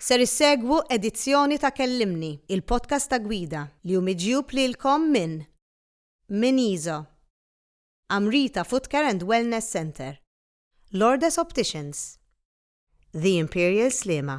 Ser issegwu edizzjoni ta' Kellimni, il-podcast ta' gwida, li hu miġjub lilkom minn Miniso, Amrita Footcare and Wellness Centre, Lourdes Opticians, The Imperial Sliema.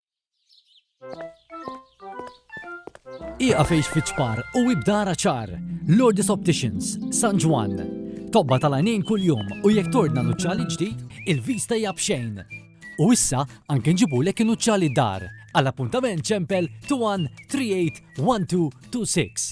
Iqa fejx fiċpar u ibdara ċar. Lourdes Opticians, San Ġwan. Tobba tal-għanin kull-jum u jek tordna nuċċali ġdid, il-vista jabxejn. U issa anke nġibulek nuċċali dar. Għal-appuntament ċempel 21 38 26.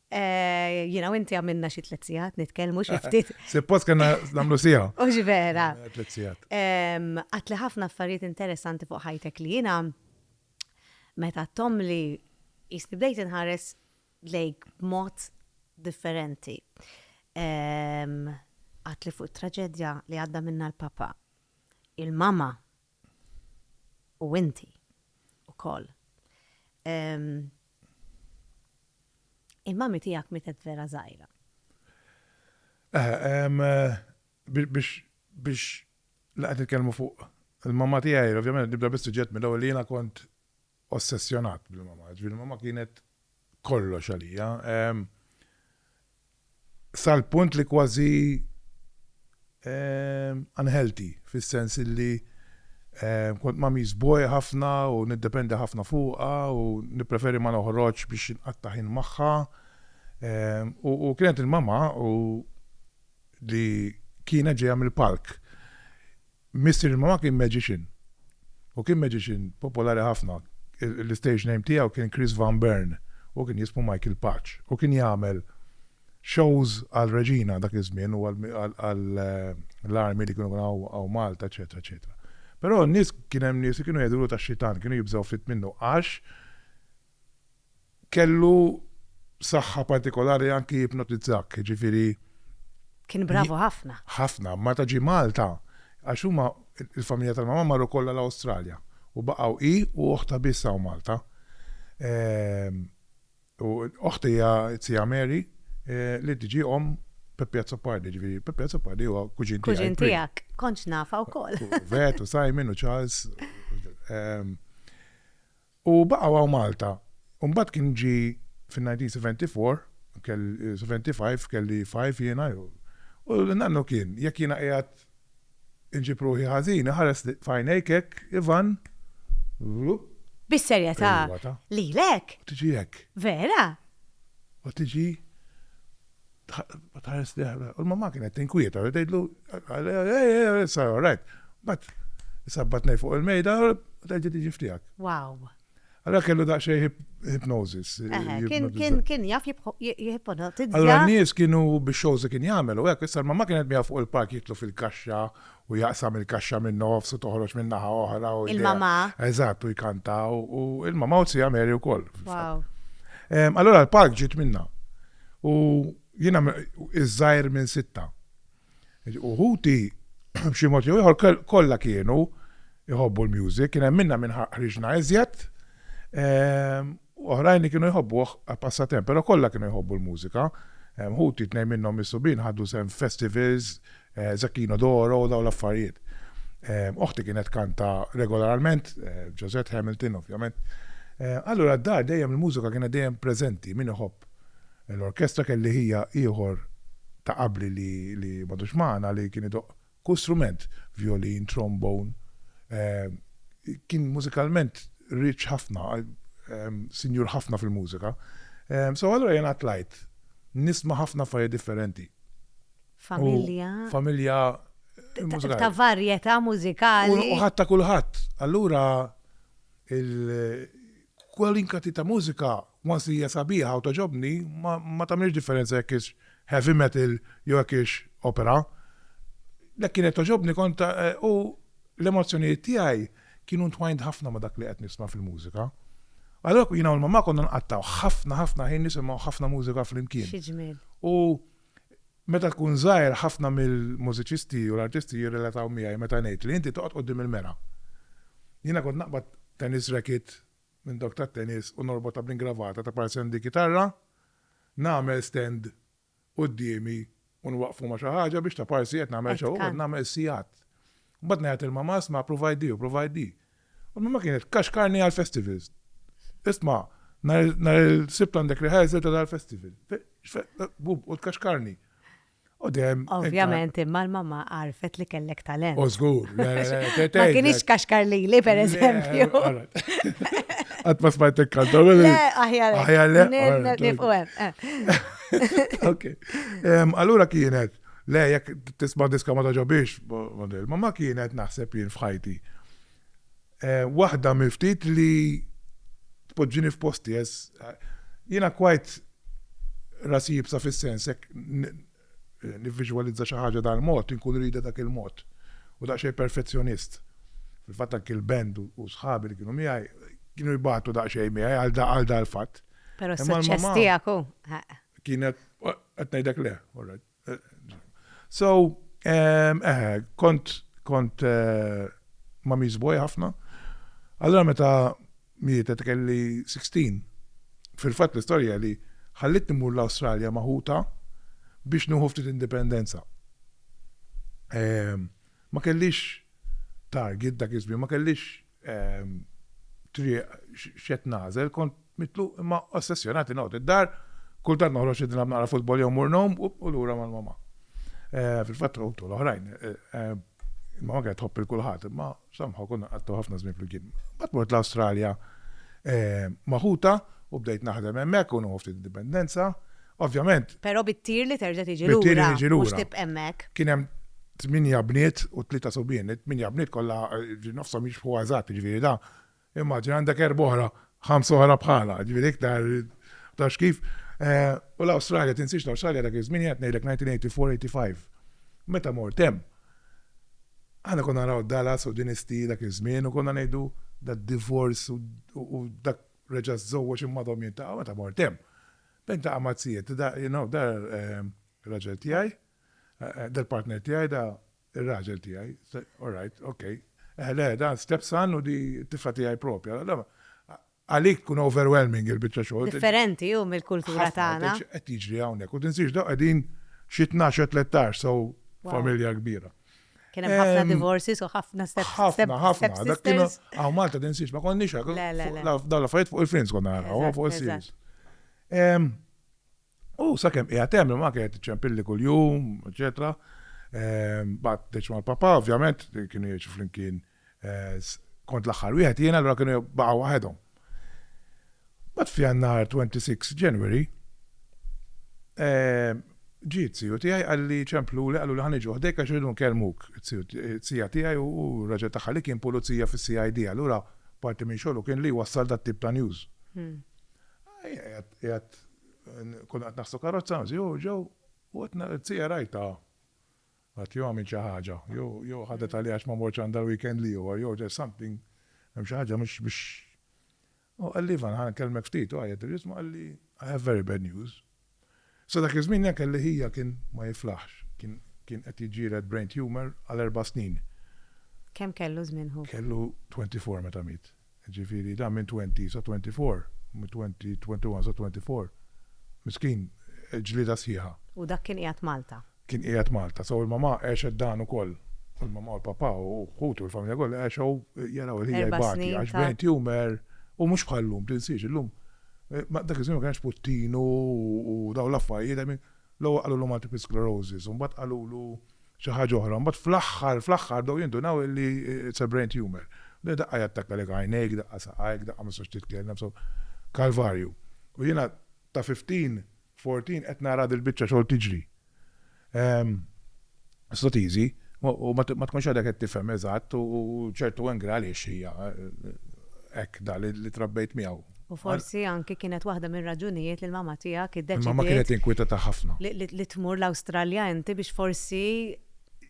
Jiena u inti għamilna xi tliet sigħat nitkellmu xi ftit. Suppost kellna nagħmlu siegħa. Hux vera. Tliet sigħat. Għadtli ħafna affarijiet interessanti fuq ħajtek li jiena meta għadthomli jisni bdejt inħares lejk b'mod differenti. Għadtli fuq it-traġedja li għadda minnha l-papa, il-mama u inti ukoll. Il-mummy tiegħek mietet vera żgħira. Biex laqgħet nitkellmu fuq il-mamma tiegħi, ovvjament nibda bis-suġġett mill-ewwel li jiena kont ossessjonat bil-mamma. Ġifieri mamma kienet kollox għalija. sal-punt li kważi unhealthy, fis-sens illi kont ma' Miss Boy ħafna u niddependi ħafna fuqha u nippreferi ma noħroġx biex inqatta' ħin magħha. U kienet il-mamma li kienet ġejja mill-palk. Missier il-mamma kien magician. Hu kien magician popolari ħafna. L-istage name tiegħu kien Chris Van Bern. Hu kien jismu Michael Patch. Hu kien jagħmel shows għal Regina dak iż-żmien u għall-army li kienu hawn Malta eċċetera eċċetera. Però n-nies kien hemm nies li kienu jgħidulu tax-xitan, kienu jibżgħu ftit minnu għax Kellu saħħa partikolari anki jipnotizzak, jiġifieri. Kien bravu ħafna. Ħafna, meta ġie Malta, għax huma, il-familja tal-mamma marru kollha l-Awstralja u baqgħu hi u oħtha biss hawn Malta. U oħt hija t-Sija Mary li tiġi omm Peppi Azzopardi, jiġifieri Peppi Azzopardi huwa kuġin tiegħi. Kuġin tiegħek, kontx nafha wkoll. U Vet u Simon u Charles. U baqgħu hawn Malta. U mbagħad kien ġie fin-1974, seventy five, kelli five jiena, u nannu kien, jekk jiena qiegħed inġib ruħi ħażin, iħares f'għajnejk hekk, Ivan, wlup. Bis-serjetà, lilek? U tiġi hekk. Vera? U tiġi Ma tħares li ħabra. U l-mamma kienet tinkwieta, u tgħidlu, sar all right. Bat, sabbat nej fuq il-mejda, u tgħidli tiġi ftijak. Wow. Allora kellu daqxej hypnosis. Kien jaf jipnotizza. Allora n-nies kienu biex xows kien jagħmel u hekk issa ma kienet miegħu fuq il-park jitlu fil-kaxxa u jaqsam il-kaxxa min-nofs u toħroġ minn naħa oħra u Il-mamà. Eżatt, u jkantaw u il-mamà u t-sija Mary wkoll. Wow. Allora l-park ġiet minna. U jiena iż-żgħir minn sitta. Uħuti b'xi mod jew ieħor kollha kienu jħobbu l-music, kien hemm minna minn ħriġna iżjed. u oħrajn li kienu jħobbuh għall-passatemp, però kollha kienu jħobbu l-mużika. Ħuti, tnejn minnhom mis-subien ħadu sehem f'festivals, Zecchino d'Oro u dawn l-affarijiet. Oħti kienet tkanta regolarment, Josette Hamilton ovvjament. Allura d-dar dejjem il-mużika kienet dejjem preżenti, min iħobb l-orkestra kelli ħija ieħor ta' qabli li m'għadux magħna li kien idoqq Kull strument, vjolin, trombone, kien mużikalment rich ħafna, sinjur ħafna fil-mużika. So allura jiena tlajt nisma' ħafna affarijiet differenti. Familja. Familja. Ta' varjetà mużikali. U ħadd ta' kulħadd. Allura Kwalunkwe tip ta' mużika, once li hija sabiħa u togħġobni, ma ma tagħmilx differenza jekk hix heavy metal jew jekk hix opera. Jekk kienet togħġobni kont u l-emozzjonijiet tiegħi kienu ntwajnt ħafna ma' dak li qed nisma' fil-mużika. Allura jiena u l-mamma konna nqattgħu ħafna ħafna ħin nisimgħu ħafna mużika flimkien. Xi ġmiel! U Meta tkun żgħir ħafna mill-mużiċisti u l-artisti jirrelataw miegħi meta ngħid li inti toqgħod quddiem il-mera. Jiena kont naqbad tennis racket minn dawk tat-tennis u norbotha bl-ingravata ta' parzjan di kitarra, nagħmel stand quddiemi u nwaqqfu ma' xi ħaġa biex taparsi qed nagħmel show u qed nagħmel sigħat. Mbagħad ngħajjat lil mamà 'sma' provajt di u provajt di. U minn ma kienet kaxkarni għall-festivals. Isma' nhar il-Sibt għandek rehearsal ta' dal-festival. Bub, u tkaxkarni. U dejjem. Ovvjament, imma l-mamma għarfet li kellek talent. U żgur. Ma kienx kaxkar lili, per eżempju. Qatt ma smajtek kanta. Aħjar. Aħjar. Nifqu hemm. Ok. Allura kienet. Le, jekk tisma' diska ma togħġobhiex, ma ma kienet naħseb jien f'ħajti. Waħda mill-ftit li tpoġġini f'posti għax jiena quite rasi jibsa fis-sens jekk nivviżwalizza xi ħaġa dal-mod inkun iridha dak il-mod u daqsxejn perfezzjonist. Fil-fatt anki l-band u sħabi li kienu miegħi kienu jbatu daqsxejn miegħi għal dal-fatt. Però s-suċċess tiegħek hu. Kienet, qed ngħidlek le, So, eh, kont kont eh, ma' miżboj ħafna. Allora meta mietet kelli 16. Fil-fatt l-istorja li ħallit nimur l-Awstralja maħuta biex nuħu ftit indipendenza. Eh, ma kellix target dak iż ma kellix triq x'qed nagħżel, kont mitluq imma ossessjonat li noqgħod id-dar, kultant noħroġ xi nilgħab naqra futbol jew mmur ngħum u lura mal-mama. Fil-fatt u tul oħrajn. Il-mama kienet tħobb il kulħadd imma somehow konna nqattgħu ħafna żmien flimkien. Mbagħad mort l-Awstralja ma' ħutha u bdejt naħdem hemmhekk u nieħu ftit indipendenza. Ovvjament. Però bit-tir li terġa' tiġi lura. Bit-tir li tiġi lura. Mhux tibqa' hemmhekk. Kien hemm tminja bniet u tlieta subien. It-tminja bniet kollha nofshom jixbħu eżatt, jiġifieri da. Immaġina għandek erba' oħra, ħamsa oħra bħalha, jiġifieri iktar tafx kif. U l-Awstralja, tinsiex l-Awstralja dak iż-żmien qed ngħidlek 1984-85. Meta mort hemm, aħna konna naraw Dallas u Dynasty dak iż-żmien u konna ngħidu da divorz u dak reġa' żżewweġ imma dom jintaqgħu meta mort hemm. Niltaqa' ma' zijiet, da, you know, da r-raġel tiegħi, da l-partner tiegħi, da r-raġel tiegħi. All right, ok. Eh, le, da stepson u di t-tifla tiegħi proprja. Għalik tkun overwhelming il-biċċa xogħol. Differenti hu mill-kultura tagħna. Qed jiġri hawnhekk. U tinsiex dawn qegħdin xi tnax jew tlettax, so familja kbira. Kien hemm ħafna divorces u ħafna step Ħafna, ħafna. Dak kienu għaw Malta din siex, ma konniex hekk. Dawn l-affarijiet fuq il-Friends konna naraw, fuq il-series. U sakemm qiegħed hemm ma kienet ċempilli kuljum, eċetera. Bat deċ mal-papa, ovvjament, kienu jgħixu flimkien għax kont l-aħħar wieħed jien allura kienu baqgħu waħedhom. Mbagħad f'Jannar 26 January eh, ġiet siju tiegħi qalli ċempluli qallu li ħan iġu ħdejk għax irridu nkellmuk. Sija tiegħi u raġel tagħha li kien pulizija fis-CID allura parti minn xogħlu kien li wassal dat tip ta' news. Hmm. Konna qed naħsu karozza, ġew ġew u qed sija rajta Ħadd jew għamilt xi ħaġa, jew jew ħadet għalija għax ma mortx għandha l-weekend l-ieħor, jew there's something, hemm xi ħaġa mhux mhux. U qalli Ivan, ħa nkellmek ftit, u għajjat il-ġismu qalli I have very bad news. Sa dak iż-żmien jien kelli ħija kien ma jiflaħx, kien kien qed jiġġieled brain tumour għal erba' snin. Kemm kellu żmien hu? Kellu twenty four meta miet. Jiġifieri dan minn twenty sa twenty four, minn twenty, twenty one sa twenty four, miskin, ġlieda sħiħa. U dak kien qiegħed Malta? Kien qiegħed Malta. So il-mamà għexet dan ukoll. U l-mamà u l-papà u ħutu u l-familja kollha għexew jaraw il-ħija jbati. Erba' snin ta'. Għax brain tumour u mhux bħal llum, tinsiex, illum, ma dak iż-żmien ma kenx puttinu u dawn l-affarjiet, I mean, l-ewwel qalulu multiple sclerosis u mbagħad qalulu, xi ħaġa oħra, u mbagħad fl-aħħar, fl-aħħar bdew jindunaw li it's a brain tumor. Bdew daqqa jattakkalek għajnejk, daqqa saqajk, daqqa ma tistax titkellem, so kalvarju. U jiena ta' 15, 14 qed nara dil-biċċa xogħol tiġri. It's not easy, u ma tkunx għadek qed tifhem eżatt u ċertu angra għaliex hija hekk dan li trabbejt miegħu. U forsi anki kienet waħda mir-raġunijiet li l-mamma tiegħek iddeċidiet. Il-mamma kienet inkwitata ħafna. Li tmur l-Awstralja inti biex forsi.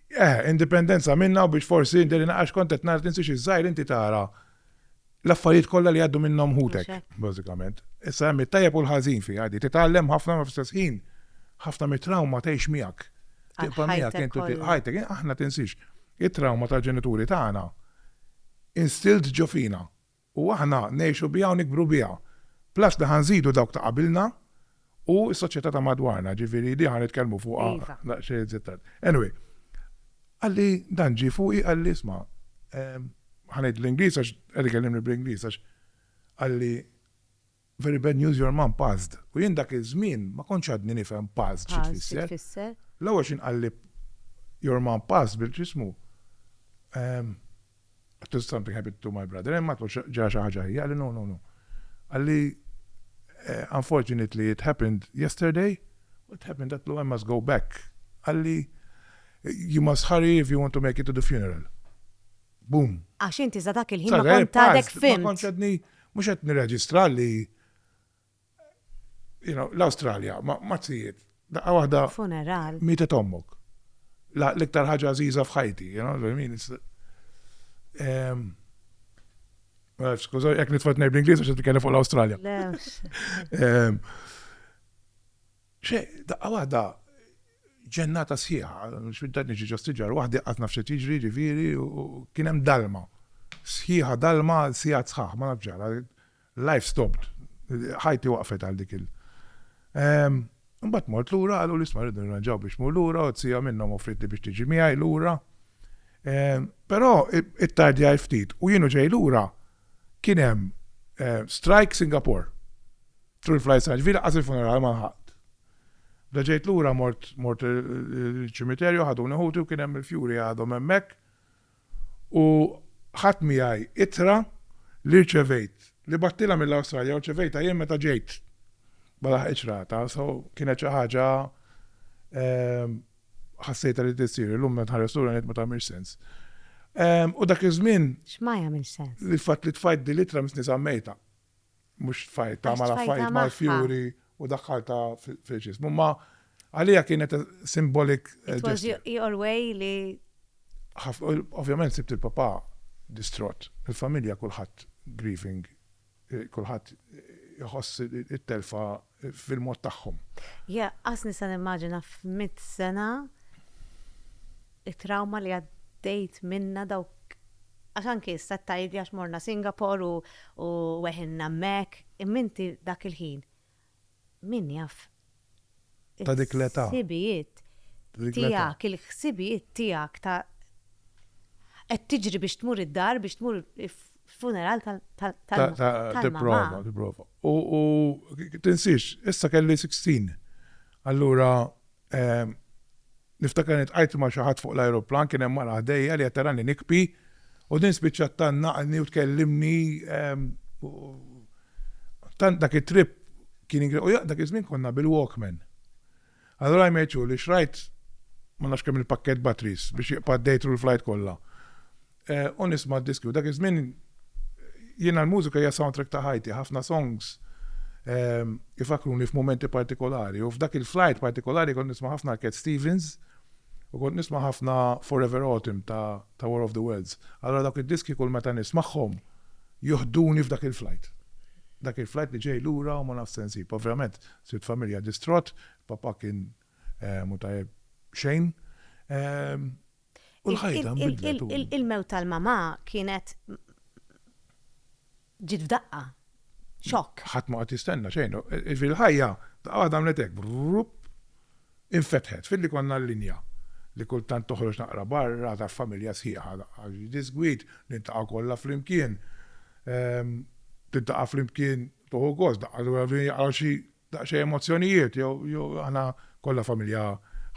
Eh, indipendenza minnha u biex forsi inti għax kont qed nara tinsiex iż-żgħir inti tara l-affarijiet kollha li jgħaddu minnhom ħutek, bażikament. Issa hemm it-tajjeb u l-ħażin fiha di. Titgħallem ħafna ma fl-istess ħin. Ħafna mit-trawma tgħix miegħek. Tibqa' miegħek intu ħajtek, aħna tinsiex. It-trawma tal-ġenituri tagħna instilt ġo fina. u aħna ngħixu biha u nikbru biha. Plus li ħa nżidu dawk ta' qabilna u s-soċjetà ta' madwarna, ġifieri di ħa nitkellmu fuqha daqsxejn iżjed tard. Anyway, qalli dan ġie fuqi qalli isma' ħa ngħid bl-Ingliż għax qed ikellimni bl-Ingliż għax qalli, Very bad news your mom passed. U jien dak iż-żmien ma kontx għadni nifhem passed xi tfisser. L-ewwel xi nqalli your mom passed bil x'ismu għedtu something happened to my brother, imma għedtu ġara xi ħaġa ħajja, qalli no, no, no. Qalli unfortunately it happened yesterday, what happened għedtlu I must go back. Qalli you must hurry if you want to make it to the funeral. Boom. Għax inti za dak il-ħin ma Sarra, eh, kont għadek pass, ma fimt. kontx għadni, mhux qed nirreġistra li you know, l-Awstralja, ma ma tzijiet, daqqa waħda Funeral. mietet ommok. La- L-iktar ħaġa għażiża f'ħajti, you know, what I mean, it's- Em, ma nafx, Skuża, jekk nitfat ngħid bl-Ingliż għax qed nitkellem fuq l-Awstralja. Le, Em, Xejn, daqqa waħda ġennata sħiħa, x'bidda niġi ġo siġar waħdi qatt naf x'qed jiġri ġifieri u kien hemm dalma sħiħa dalma għal sigħat sħaħ ma nafx ġara life stopped ħajti waqfet għal dik il Imbagħad mort lura qaluli isma' rridu nirranġaw biex tmur lura u t-sija minnhom offrietli biex tiġi miegħi lura. Però ittardjajt ftit u jien u ġej lura Kien hemm strike Singapore. Tul il-flight sa Ġviri laqqas il-funeral ma lħaqt. Meta ġejt lura mort mort il-ċimiterju ħaduni ħuti u kien hemm il-fjuri għadhom hemmhekk u ħadt miegħi ittra li rċevejt li bgħattilha mill-Awstralja u rċevejtha jien meta ġejt. Ma laħqitx rata so kienet xi ħaġa Ħassejtha li tissir, illum meta nħares lura ngħid ma tagħmilx sens. U dak iż-żmien. X'ma jagħmilx sens? Li fatt li tfajt din l-ittra missnisa mejta. Mhux tfajt ta' mala fajt mal-fjuri u daħħalta fil-ġism. Imma għalija kienet simbolik. It was your way li. Ovvjament sibt il-papa distrott, il-familja kulħadd grieving Kulħadd iħoss it-telfa fil-mod tagħhom. Yeah, qas nista' nimmaġina f'mitt sena it-trawma li għaddejt minnha dawk għax anki issa qed tgħidli għax morna Singapore u weħilna hemmhekk, imma inti dak il-ħin Min jaf il-ħsibijiet tiegħek, il-ħsibijiet tiegħek ta' qed tiġri biex tmur id-dar, biex tmur il-funeral tal-mamma. Tipprova, tipprova. U tinsiex, issa kelli 16. Allura Ehm, niftakar nitqajt ma' xi ħadd fuq l-ajruplan kien hemm mara ħdejja li qed tarani nikpi u din spiċċat tannaqni u tkellimni ehm, tant dak it-trip kien ingre u dak iż-żmien konna bil-Walkman. Allura jmeċu li xrajt ma nafx kemm il-pakket batteries biex jiqpa' dejtru l-flajt kollha. u nisma' d-diski u dak iż-żmien jiena l-mużika hija soundtrack ta' ħajti, ħafna songs ifakruni f'mumenti partikolari u f'dak il-flight partikolari kont nisma' ħafna Cat Stevens u kont nisma' ħafna Forever Autumn ta' War of the Worlds. Allura dawk id-diski kull meta nismagħhom joħduni f'dak il-flight. Dak il-flight li ġej lura u ma nafx se nsib. Ovvjament sibt familja distrott, papà kien mhu tajjeb xejn. U l-ħajta nbidlet. Il-mewt tal-mamà kienet ġiet f'daqqa. Xokk. Ħadd ma qed jistenna xejn. Il-ħajja għadha għamlet hekk, brupp, infetħet. Filli konna l-linja li kultant toħroġ naqra barra taf familja sħiħa għax disgwid niltaqgħu kollha flimkien. Ehm, tiltaqa' flimkien toħu gost daqqa l-ewwel jaqgħu xi Daqsxejn emozzjonijiet, jew aħna kollha familja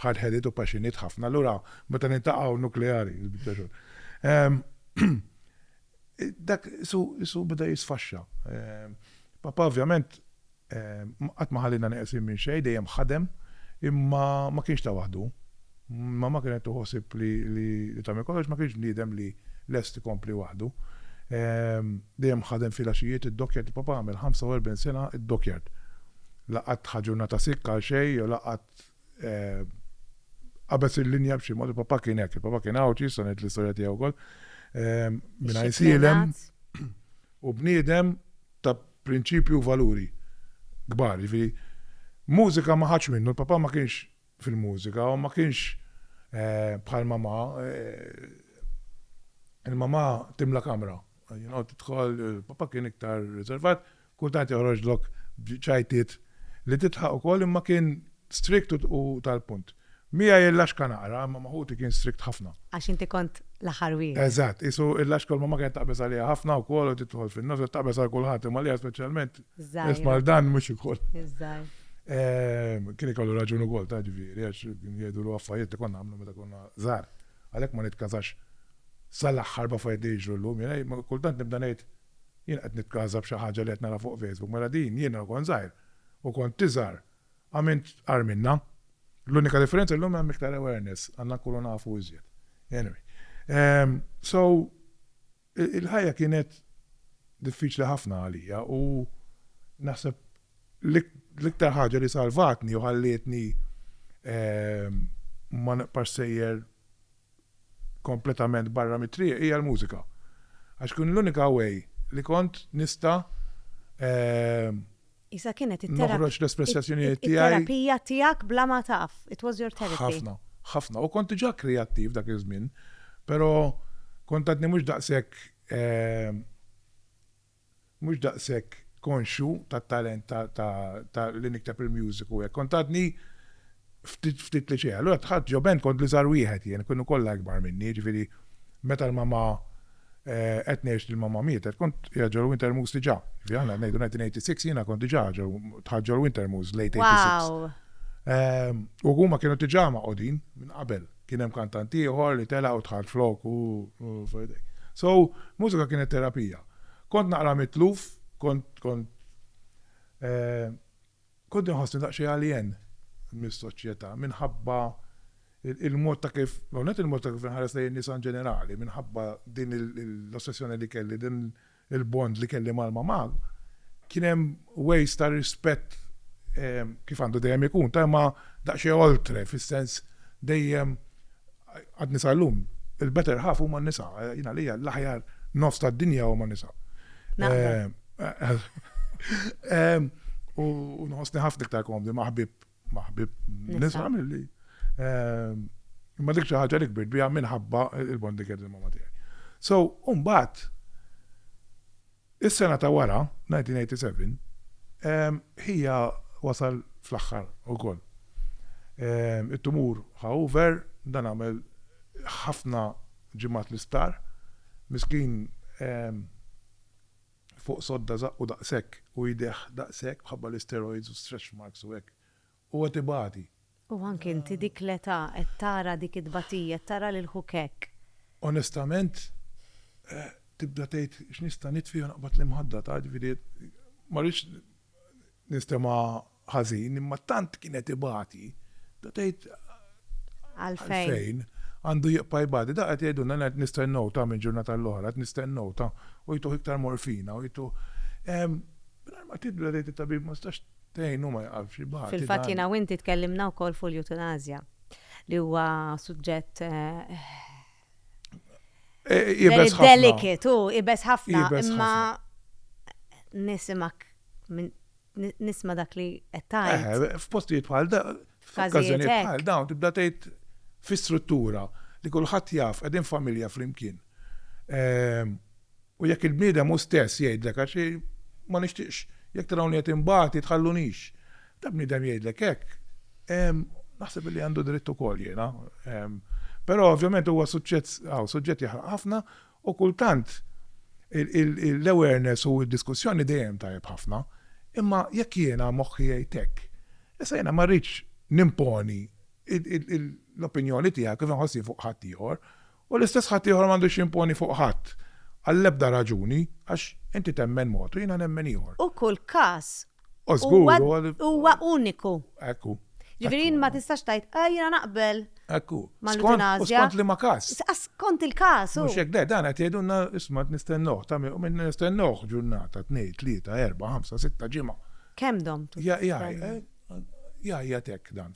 hardheaded u passionate ħafna, allura meta niltaqgħu nukleari il-biċċa xogħol. Dak isu beda jisfaxxa. Papà ovvjament qatt ma ħalliena neqsin minn xejn, dejjem ħadem, imma ma kienx ta' waħdu. Mamma kienet tieħu ħsieb li tagħmel kollox, ma kienx bniedem li lest ikompli waħdu. Dejjem ħadem filgħaxijiet id-dockyard, papà għamel 45 sena d-dockyard. La qatt ħa ġurnata sick għal xejn jew la qatt qabeż il-linja b'xi mod, il-papà kien hekk, il-papà kien Għawdxi, issa ngħid l-istorja tiegħu wkoll, mingħajr sielem u bniedem ta' prinċipji u valuri kbar. Jiġifieri mużika ma ħadx minnu, il-papà ma kienx fil-mużika u ma kienx bħal mamà, il-mamà timla kamra, tidħol, papà kien iktar riservat, kultant joħroġlok b'ċajtiet li tidħaq ukoll imma kien strict u tal-punt. Miegħi il-laxka naqra imma ma' ħuti kien strict ħafna. Għax inti kont l-aħħar wieħed. Eżatt, qisu il-laxka l-mamà kienet taqbeż għaliha ħafna wkoll u tidħol fin-nofs, taqbeż għal kulħadd imma għaliha speċjalment Isma' dan mhux ikun. Ehm, kien ikollu raġun ukoll ta' ġifieri għax kien jgħidu l affarijiet li konna għamlu meta konna żgħar. Għalhekk ma nitkażax sal-aħħar b'affarijiet li jiġru llum. Jiena kultant nibda ngħid jien qed nitkaża b'xi ħaġa li qed nara fuq Facebook, mela din jiena kont żgħir u kont tiżgħar għamilt qar minnha. L-unika differenza llum hemm iktar awareness, għandna nkunu nafu iżjed. Anyway, ehm, so Il-ħajja kienet diffiċli ħafna għalija u naħseb l-iktar ħaġa li salvatni u ħallietni ma nibqax sejjer kompletament barra mit-triq hija l-mużika. Għax kien l-unika way li kont nista' Isa kienet it-terapija. Noħroġ l-espressjazzjonijiet tiegħi. It-terapija tiegħek bla ma taf. It was your therapy. Ħafna, ħafna. U kont diġà kreattiv dak iż-żmien, però kont għadni mhux daqshekk mhux daqshekk konxju tat-talent ta' li nikteb il-music u hekk. Kont għadni ftit ftit li xejn. Allura dħalt ġo band kont l-iżgħar wieħed jien, kienu kollha ikbar minni, jiġifieri meta l-mamma qed ngħix li l-mamma mietet kont qiegħed ġol Wintermoors diġà. Jiġifieri aħna qed ngħidu 1986 jiena kont diġà ġo dħalt ġol Wintermoors late 86. U huma kienu diġà magħqudin minn qabel. Kien hemm kantant ieħor li tela' u dħalt flok u f'idejh. So, mużika kienet terapija. Kont naqra mitluf, kont kont Kont inħossni daqsxejn alien mis-soċjetà minħabba l-mod ta' kif, l-ewwel nett il-mod ta' kif inħares lejn in-nisa in ġenerali, minħabba din l-ossessjoni li kelli, din il-bond li kelli mal-mamà, kien hemm ways ta' rispett kif għandu dejjem ikun, ta' imma daqsxejn oltre, fis-sens dejjem Għadni sal-lum, il-better half huma nisa, jien għalija l-aħjar nofs tad-dinja huma nisa. U nħossni ħafna iktar komdi maħbib maħbib nisa mill-li. Imma dik xi ħaġa li kbirt biha minħabba il-bondi kien ma' tiegħi. So, mbagħad Is-sena ta' wara, 1987, ħija wasal fl-aħħar ukoll. It-tumur ħa over, dan għamel ħafna ġimgħat l-isptar. Miskin fuq sodda żaqqu daqshekk u jdejh daqshekk mħabba l-isteroids u stretch marks u hekk u qed ibati. U anke inti dik l-età qed tara dik it-tbatija, qed tara lil ħuk hekk. Onestament tibda tgħid x'nista' nitfi u naqbad l-imħadda, taf, ġifieri ma rridx nistema' ħażin imma tant kien qed ibati, tibda tgħid għalfejn għandu jibqa' jbati. Daqqa qed jgħidulna aħna qed nistennew, taf, minn ġurnata għal oħra, qed nistennew, taf, u jtuh iktar morfina u jtuh. Mingħajr ma tibda tgħid it-tabib ma stax. Tgħinu ma jqafx ibati. Fil-fatt jiena u inti tkellimna wkoll fuq l-eutanasja li huwa suġġett Ibes ħafna. Delicate, u ibes ħafna, imma nisimak nisma dak li qed tgħid. F'postijiet bħal da, F'każijiet bħal dawn tibda tgħid fi struttura li kulħadd jaf qegħdin familja flimkien. Ehm, u jekk il-bniedem hu stess jgħidlek għax ma nixtieqx jekk tarawni qed imbagħad jitħallunix. Ta' bniedem jgħidlek hekk. Ehm, naħseb li għandu dritt ukoll jiena. Ehm, però ovvjament huwa suġġett suġġett jaħraq ħafna U kultant l-awareness u d-diskussjoni dejjem tajjeb ħafna, imma jekk jiena moħħi jgħid hekk, issa jiena ma rridx nimponi l-opinjoni tiegħi kif inħossni fuq ħaddieħor, u l-istess ħaddieħor m'għandux jimponi fuq ħadd għall-ebda raġuni għax inti temmen mod u jiena nemmen ieħor. U kull każ Huwa uniku. Hekk hu. Ġifieri ma tistax tgħid, ah jiena naqbel. Hekk hu. Mal-eutanasja. Skont liema każ. Skont il-każ hu. Mhux hekk le, dan qed jgħidulna isma' qed nistennuh, ta' min nistennuh ġurnata, tnejn, tlieta, erbgħa, ħamsa, sitta, ġimgħa. Kemm domtu? Jgħajjat hekk dan,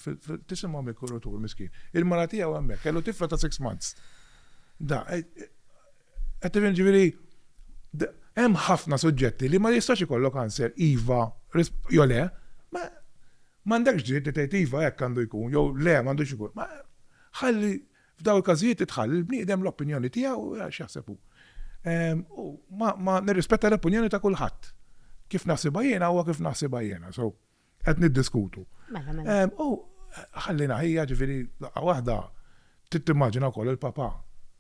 tisimgħu mill-kuratur miskin. Il-mara tiegħu hemmhekk, kellu tifla ta' six months. Qed tifhem ġifieri hemm ħafna suġġetti li ma jistax ikollok answer iva jew le, ma m'għandekx dritt li tgħid iva hekk għandu jkun jew le m'għandux ikun. Ma ħalli f'dawn il-każijiet titħalli l-bniedem l-opinjoni tiegħu x'jaħseb hu. Ehm, u ma nirrispetta l-opinjoni ta' kulħadd. Kif naħsibha jiena huwa kif naħsibha jiena, so. Qed niddiskutu. Mela, mela. U ħallina ħija ġifieri daqqa waħda tittimmaġina wkoll il-papa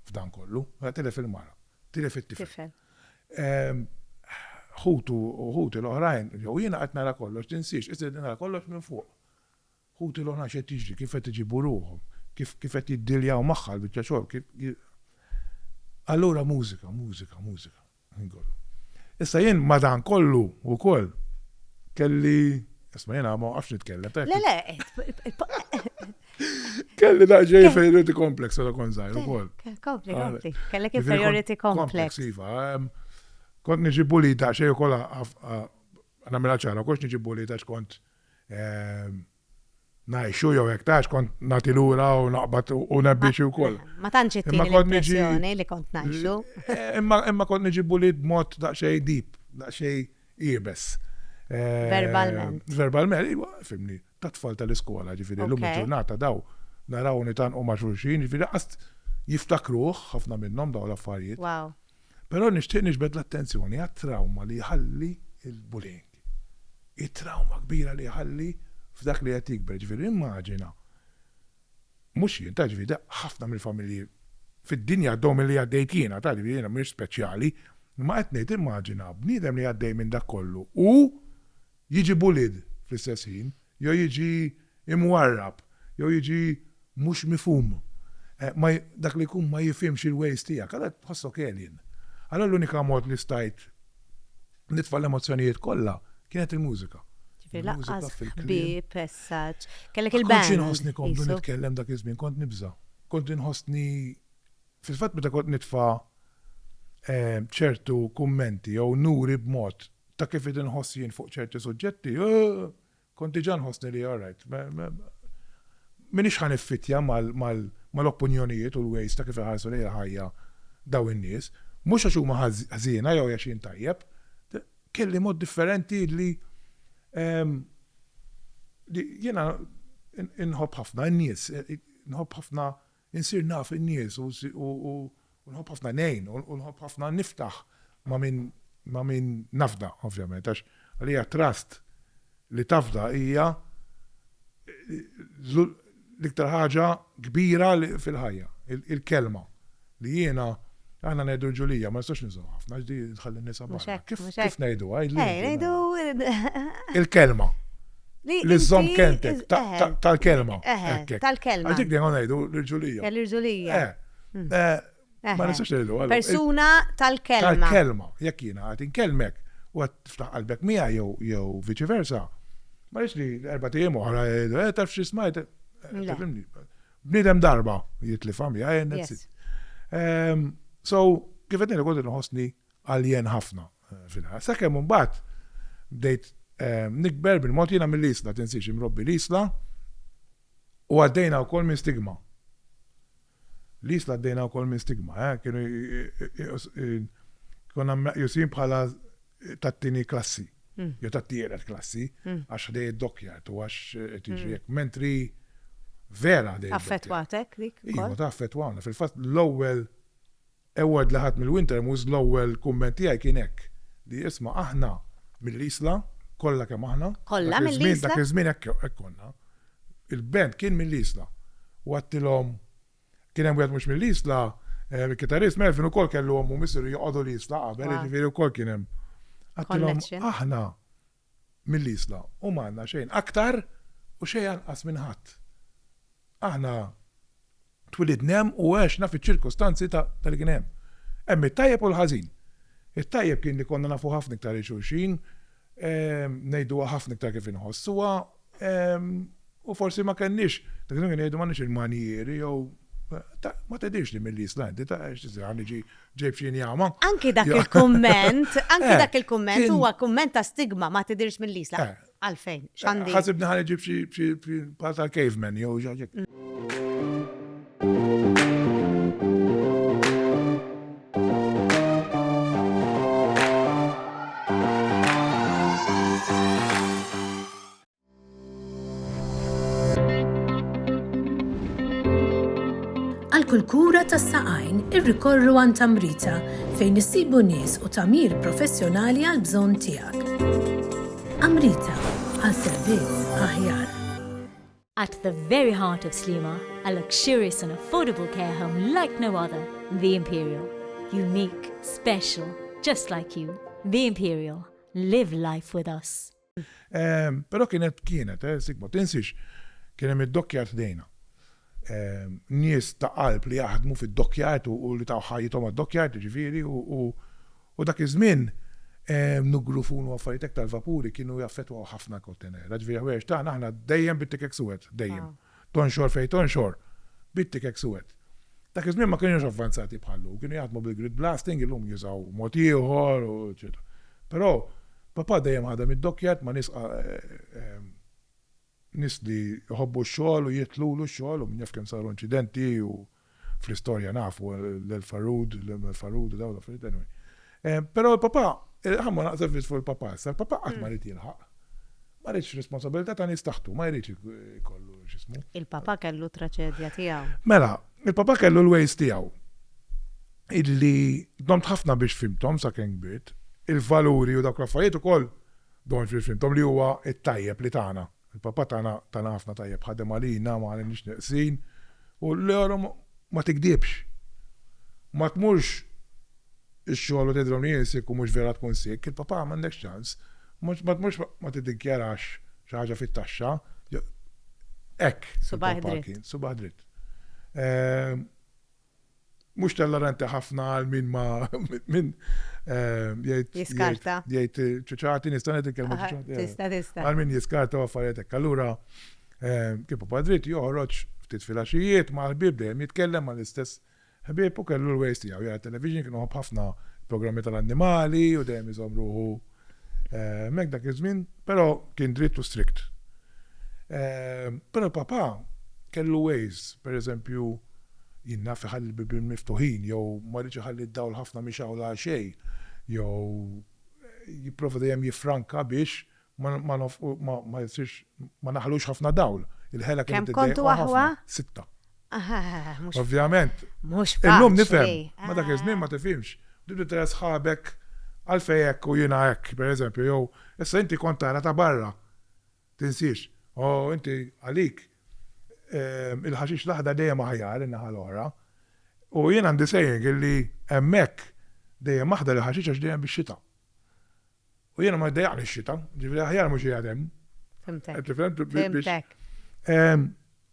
f'dan kollu, mela tilef il-mara, tilef it-tifel. Ħutu u ħuti l-oħrajn, jew jiena qed nara kollox, tinsiex, isir nara kollox minn fuq. Ħuti l-oħrajn xejn tiġri, kif qed iġibu ruħhom, kif qed jiddiljaw magħha l-biċċa xogħol, kif Allura mużika, mużika, mużika. Issa jien madan kollu u koll kelli, isma jena ma għafx nitkellem. Le, le, Kelli da ġej inferiority complex għada kon zaħir u koll. Kompli, kompli. Kellek inferiority complex. Iva, kont nġi bulita xej u koll għamela ċara, kux nġi bulita xkont Ngħixu jew hekk tgħix kont nagħti lura u naqbad u nebbi xi wkoll. Ma tantx ittini l-impressjoni li kont ngħixu. Imma kont niġi bullied b'mod daqsxejn deep, daqsxejn iebes. Verbalment. Verbalment, iva, fimni, ta' tfal tal-iskola, ġifieri llum il-ġurnata daw naraw nitgħanqu ma' xulxin, ġifieri laqas jiftakruh ħafna minnhom dawn l-affarijiet. Però nixtieq niġbed l-attenzjoni għat-trawma li jħalli l-bullying. it-trawma kbira li jħalli f'dak li qed jikber. Ġifieri immaġina, mhux jien, taf ġifieri, ħafna mill-familji fid-dinja għaddhom milli għaddejt jiena, taf ġifieri jiena m'iniex speċjali, imma qed ngħid immaġina bniedem li għaddej minn dak kollu u jiġi bullied fl-istess ħin. jew jiġi imwarrab, jew jiġi mhux mifhum, ma dak li jkun ma jifhimx il-ways tiegħek, allura tħossok alien. Allura l-unika mod li stajt nitfa' l-emozzjonijiet kollha kienet il-mużika. Ġifieri lanqas ħbieb as such, kellek il-band. Ma kontx inħossni komdu nitkellem dak iż-żmien, kont nibża'. Kont inħossni, fil-fatt meta kont nitfa' ċertu kummenti jew nuri b'mod Ta' kif id inħoss jien fuq ċerti suġġetti, kont diġà nħossni li all right, m'iniex ħa niffittja mal-opinjonijiet u l-ways ta' kif iħarsu lejn il-ħajja dawn in-nies, mhux għax huma ħżiena jew għax jien tajjeb, kelli mod differenti li jiena inħobb ħafna n-nies, inħobb ħafna Insir naf in-nies u nħobb ħafna ngħin u nħobb ħafna niftaħ ma' min ma' min nafda, ovvjament, għax għalija trust li tafda hija l-iktar ħaġa kbira fil-ħajja, il-kelma li jiena, Aħna ngħidu l-ġulija, ma nistax niżgħu ħafna, għax di tħalli nisa barra. Kif ngħidu għajdu? Eh, ngħidu. Il-kelma. Li żomm kentek tal-kelma. Tal-kelma. Għax dik dejjem ngħidu l-ġulija. Eh, L-ġulija. Eh, hmm. Ma nistax ngħidu għal. Persuna tal-kelma. Tal-kelma. Jekk jiena għad inkelmek u għad tiftaħ qalbek mija jew viċi versa. Ma li erba' tiegħi oħra, taf xi smajt. Bniedem darba jitlifha miegħi għajr nitsit. So, kif qed ngħidlek kont inħossni alien ħafna fil-ħajja. Sakemm imbagħad bdejt nikber bil-mod jiena mill-Isla, tinsiex imrobbi l-Isla u għaddejna wkoll minn stigma. L-Isla għaddejna wkoll minn stigma, eh, kienu konna jusin bħala tat-tieni klassi. jew tat-tielet klassi għax ħdej id-dockyard u għax qed jiġri hekk. Mentri vera ħdej. Affettwatek dik? Iva, ta' affettwawna. Fil-fatt l-ewwel award li ħadd mill-Winter Moose l-ewwel kumment tiegħi kien hekk li isma' aħna mill-Isla kollha kemm aħna. Kollha mill-Isla? Dak iż-żmien hekk konna. Il-band kien mill-Isla. U għedtilhom Kien hemm wieħed mhux mill-Isla, il-kitarrist Melvin ukoll kellu ommu missieru joqogħdu l-Isla qabel, jiġifieri wkoll kien hemm. Għattilhom aħna mill-Isla u ma għandna xejn aktar u xejn anqas minn ħadd. Aħna twilidna hemm u għexna fiċ-ċirkustanzi ta' li kien hemm. Hemm it-tajjeb u l-ħażin. It-tajjeb kien li konna nafu ħafna iktar lil xulxin, ngħiduha ħafna iktar kif inħossuha U forsi ma kenniex, dak iż-żmien jgħidu m'għandniex il-manjieri jew ma tedix li mill-Islandi, ta' x'tiżran iġi ġej f'xini għama. Anki dak il-kumment, anki eh, dak il-kumment huwa kumment ta' stigma ma tidirx mill-Isla. Eh. Għalfejn, eh, x'għandi. Ħasibni ħan iġi f'xi pal tal-caveman jew ġaġek. kull kura tas saqajn irrikorru għan tamrita fejn issibu nies u tamir professjonali għal bżonn tiegħek. Amrita għal servizz aħjar. At the very heart of Sliema, a luxurious and affordable care home like no other, The Imperial. Unique, special, just like you. The Imperial. Live life with us. Pero kienet, kienet, eh, sik ma tinsiex, kien hemm id-dokkjart ħdejna. Nies ta' qalb li jaħdmu fid-dokkjart u li taw ħajjithom għad-dokkjart, ġifieri, u U dak iż-żmien nugru funu affarijiet hekk tal-vapuri kienu jaffettwaw ħafna l-Kottenera. Jiġifieri l-ħwejjeġ tagħna aħna dejjem bit-tikek suwed, dejjem. Tonxor fejn tonxor, bit-tikek suwed. Dak iż-żmien ma kinux avvanzati bħal llum, kienu jaħdmu bil-grid blasting, illum jużaw mod ieħor u eċċetera. Però papà dejjem ħadem id-dokkjard ma' nies Nies li jħobbu x-xogħol u jidħlulu x-xogħol u min jaf kemm saru inċidenti u fl-istorja nafu l-El Farood, l-Imel Farood u dawn l-affarijiet anyway. Ehm, però l-papà, ħamma naqsef biss fuq il-papà issa, l-papà qatt ma rid jilħaq. Ma ridx responsabilità ta' nies taħtu, ma jridx ikollu x'ismu. Il-papà kellu traċedja tiegħu. Mela, il-papà kellu l-ways tiegħu. Illi domt ħafna biex fimthom sakemm kbirt, il-valuri u dawk l-affarijiet ukoll Don Phil Fintom li huwa t-tajjeb li tana. Il-Papa tana tana ħafna tajjeb, ħadem għalina ma għalinix neqsin u l-euro ma tigdibx. Ma tmurx ix-xogħol u tgħidilhom li jien sikk u mhux vera tkun sikk, il-Papa m'għandekx ċans. Mhux ma tmurx ma tiddikjarax xi ħaġa fit-taxxa jew hekk. Subgħajh dritt. Subgħajh dritt. mhux telloranti ħafna għal min ma min jgħid. Jiskarta. Jgħid ċuċati, nista' ngħid il-kelma ċuċati. Tista' tista'. Għal min jiskarta u affarijiet hekk. Allura kif padrit joħroġ ftit filgħaxijiet ma' ħbieb dejjem jitkellem ma' l-istess ħbieb u kellu l-ways tiegħu jara television kienu ħafna programmi tal-annimali u dejjem iżomm ruħu Hemmhekk dak iż-żmien, però kien dritt u strict. Però Papa kellu ways, pereżempju, jien naf iħalli l-bibien miftuħin jew ma jridx iħalli d-dawl ħafna mixgħul għal xejn jew jipprova dejjem jiffranka biex ma nofqu ma jsirx ma naħlux ħafna dawl. Il-ħela kienet iddejjqu ħafna. Kemm kontu aħwa? Sitta. Ovvjament. Mhux faċli. Illum nifhem, ma dak iż-żmien ma tifhimx. Tibda tara sħabek għalfejn hekk u jiena hekk, pereżempju, jew issa inti kont tara ta' barra. Tinsiex. O inti għalik il-ħaxix l-aħdar dejjem aħjar in-naħa l-oħra. U jien għandi saying illi hemmhekk dejjem aħdar il-ħaxix għax dejjem bix-xita. U jiena ma jdejaqni x-xita, ġifieri aħjar mhux qiegħed hemm. Fimtek. Fimtek.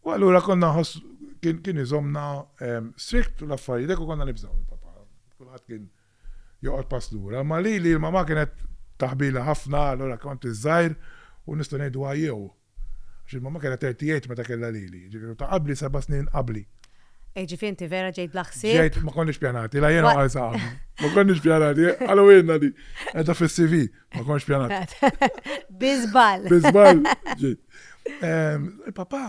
U allura konna ħoss kien iżomna strikt u l-affarijiet u konna nibżgħu il-papa. Kulħadd kien joqgħod pass lura, ma li li l-mama kienet taħbila ħafna, allura kont iż-żgħir u nista' ngħidu għajjew. Għax il-mamma kellha thirty eight meta kellha lili, jiġifieri u ta' qabli seba' snin qabli. Eh ġifieri inti vera ġejt bla ħsieb? Ġejt, ma konniex pjanati, la jiena u Għarsa qabli. Ma konniex pjanati, qalu ilna di, qiegħda fis-CV, ma kontx pjanat. Bi żball. Bi żball ġejt. Ehm, il-papà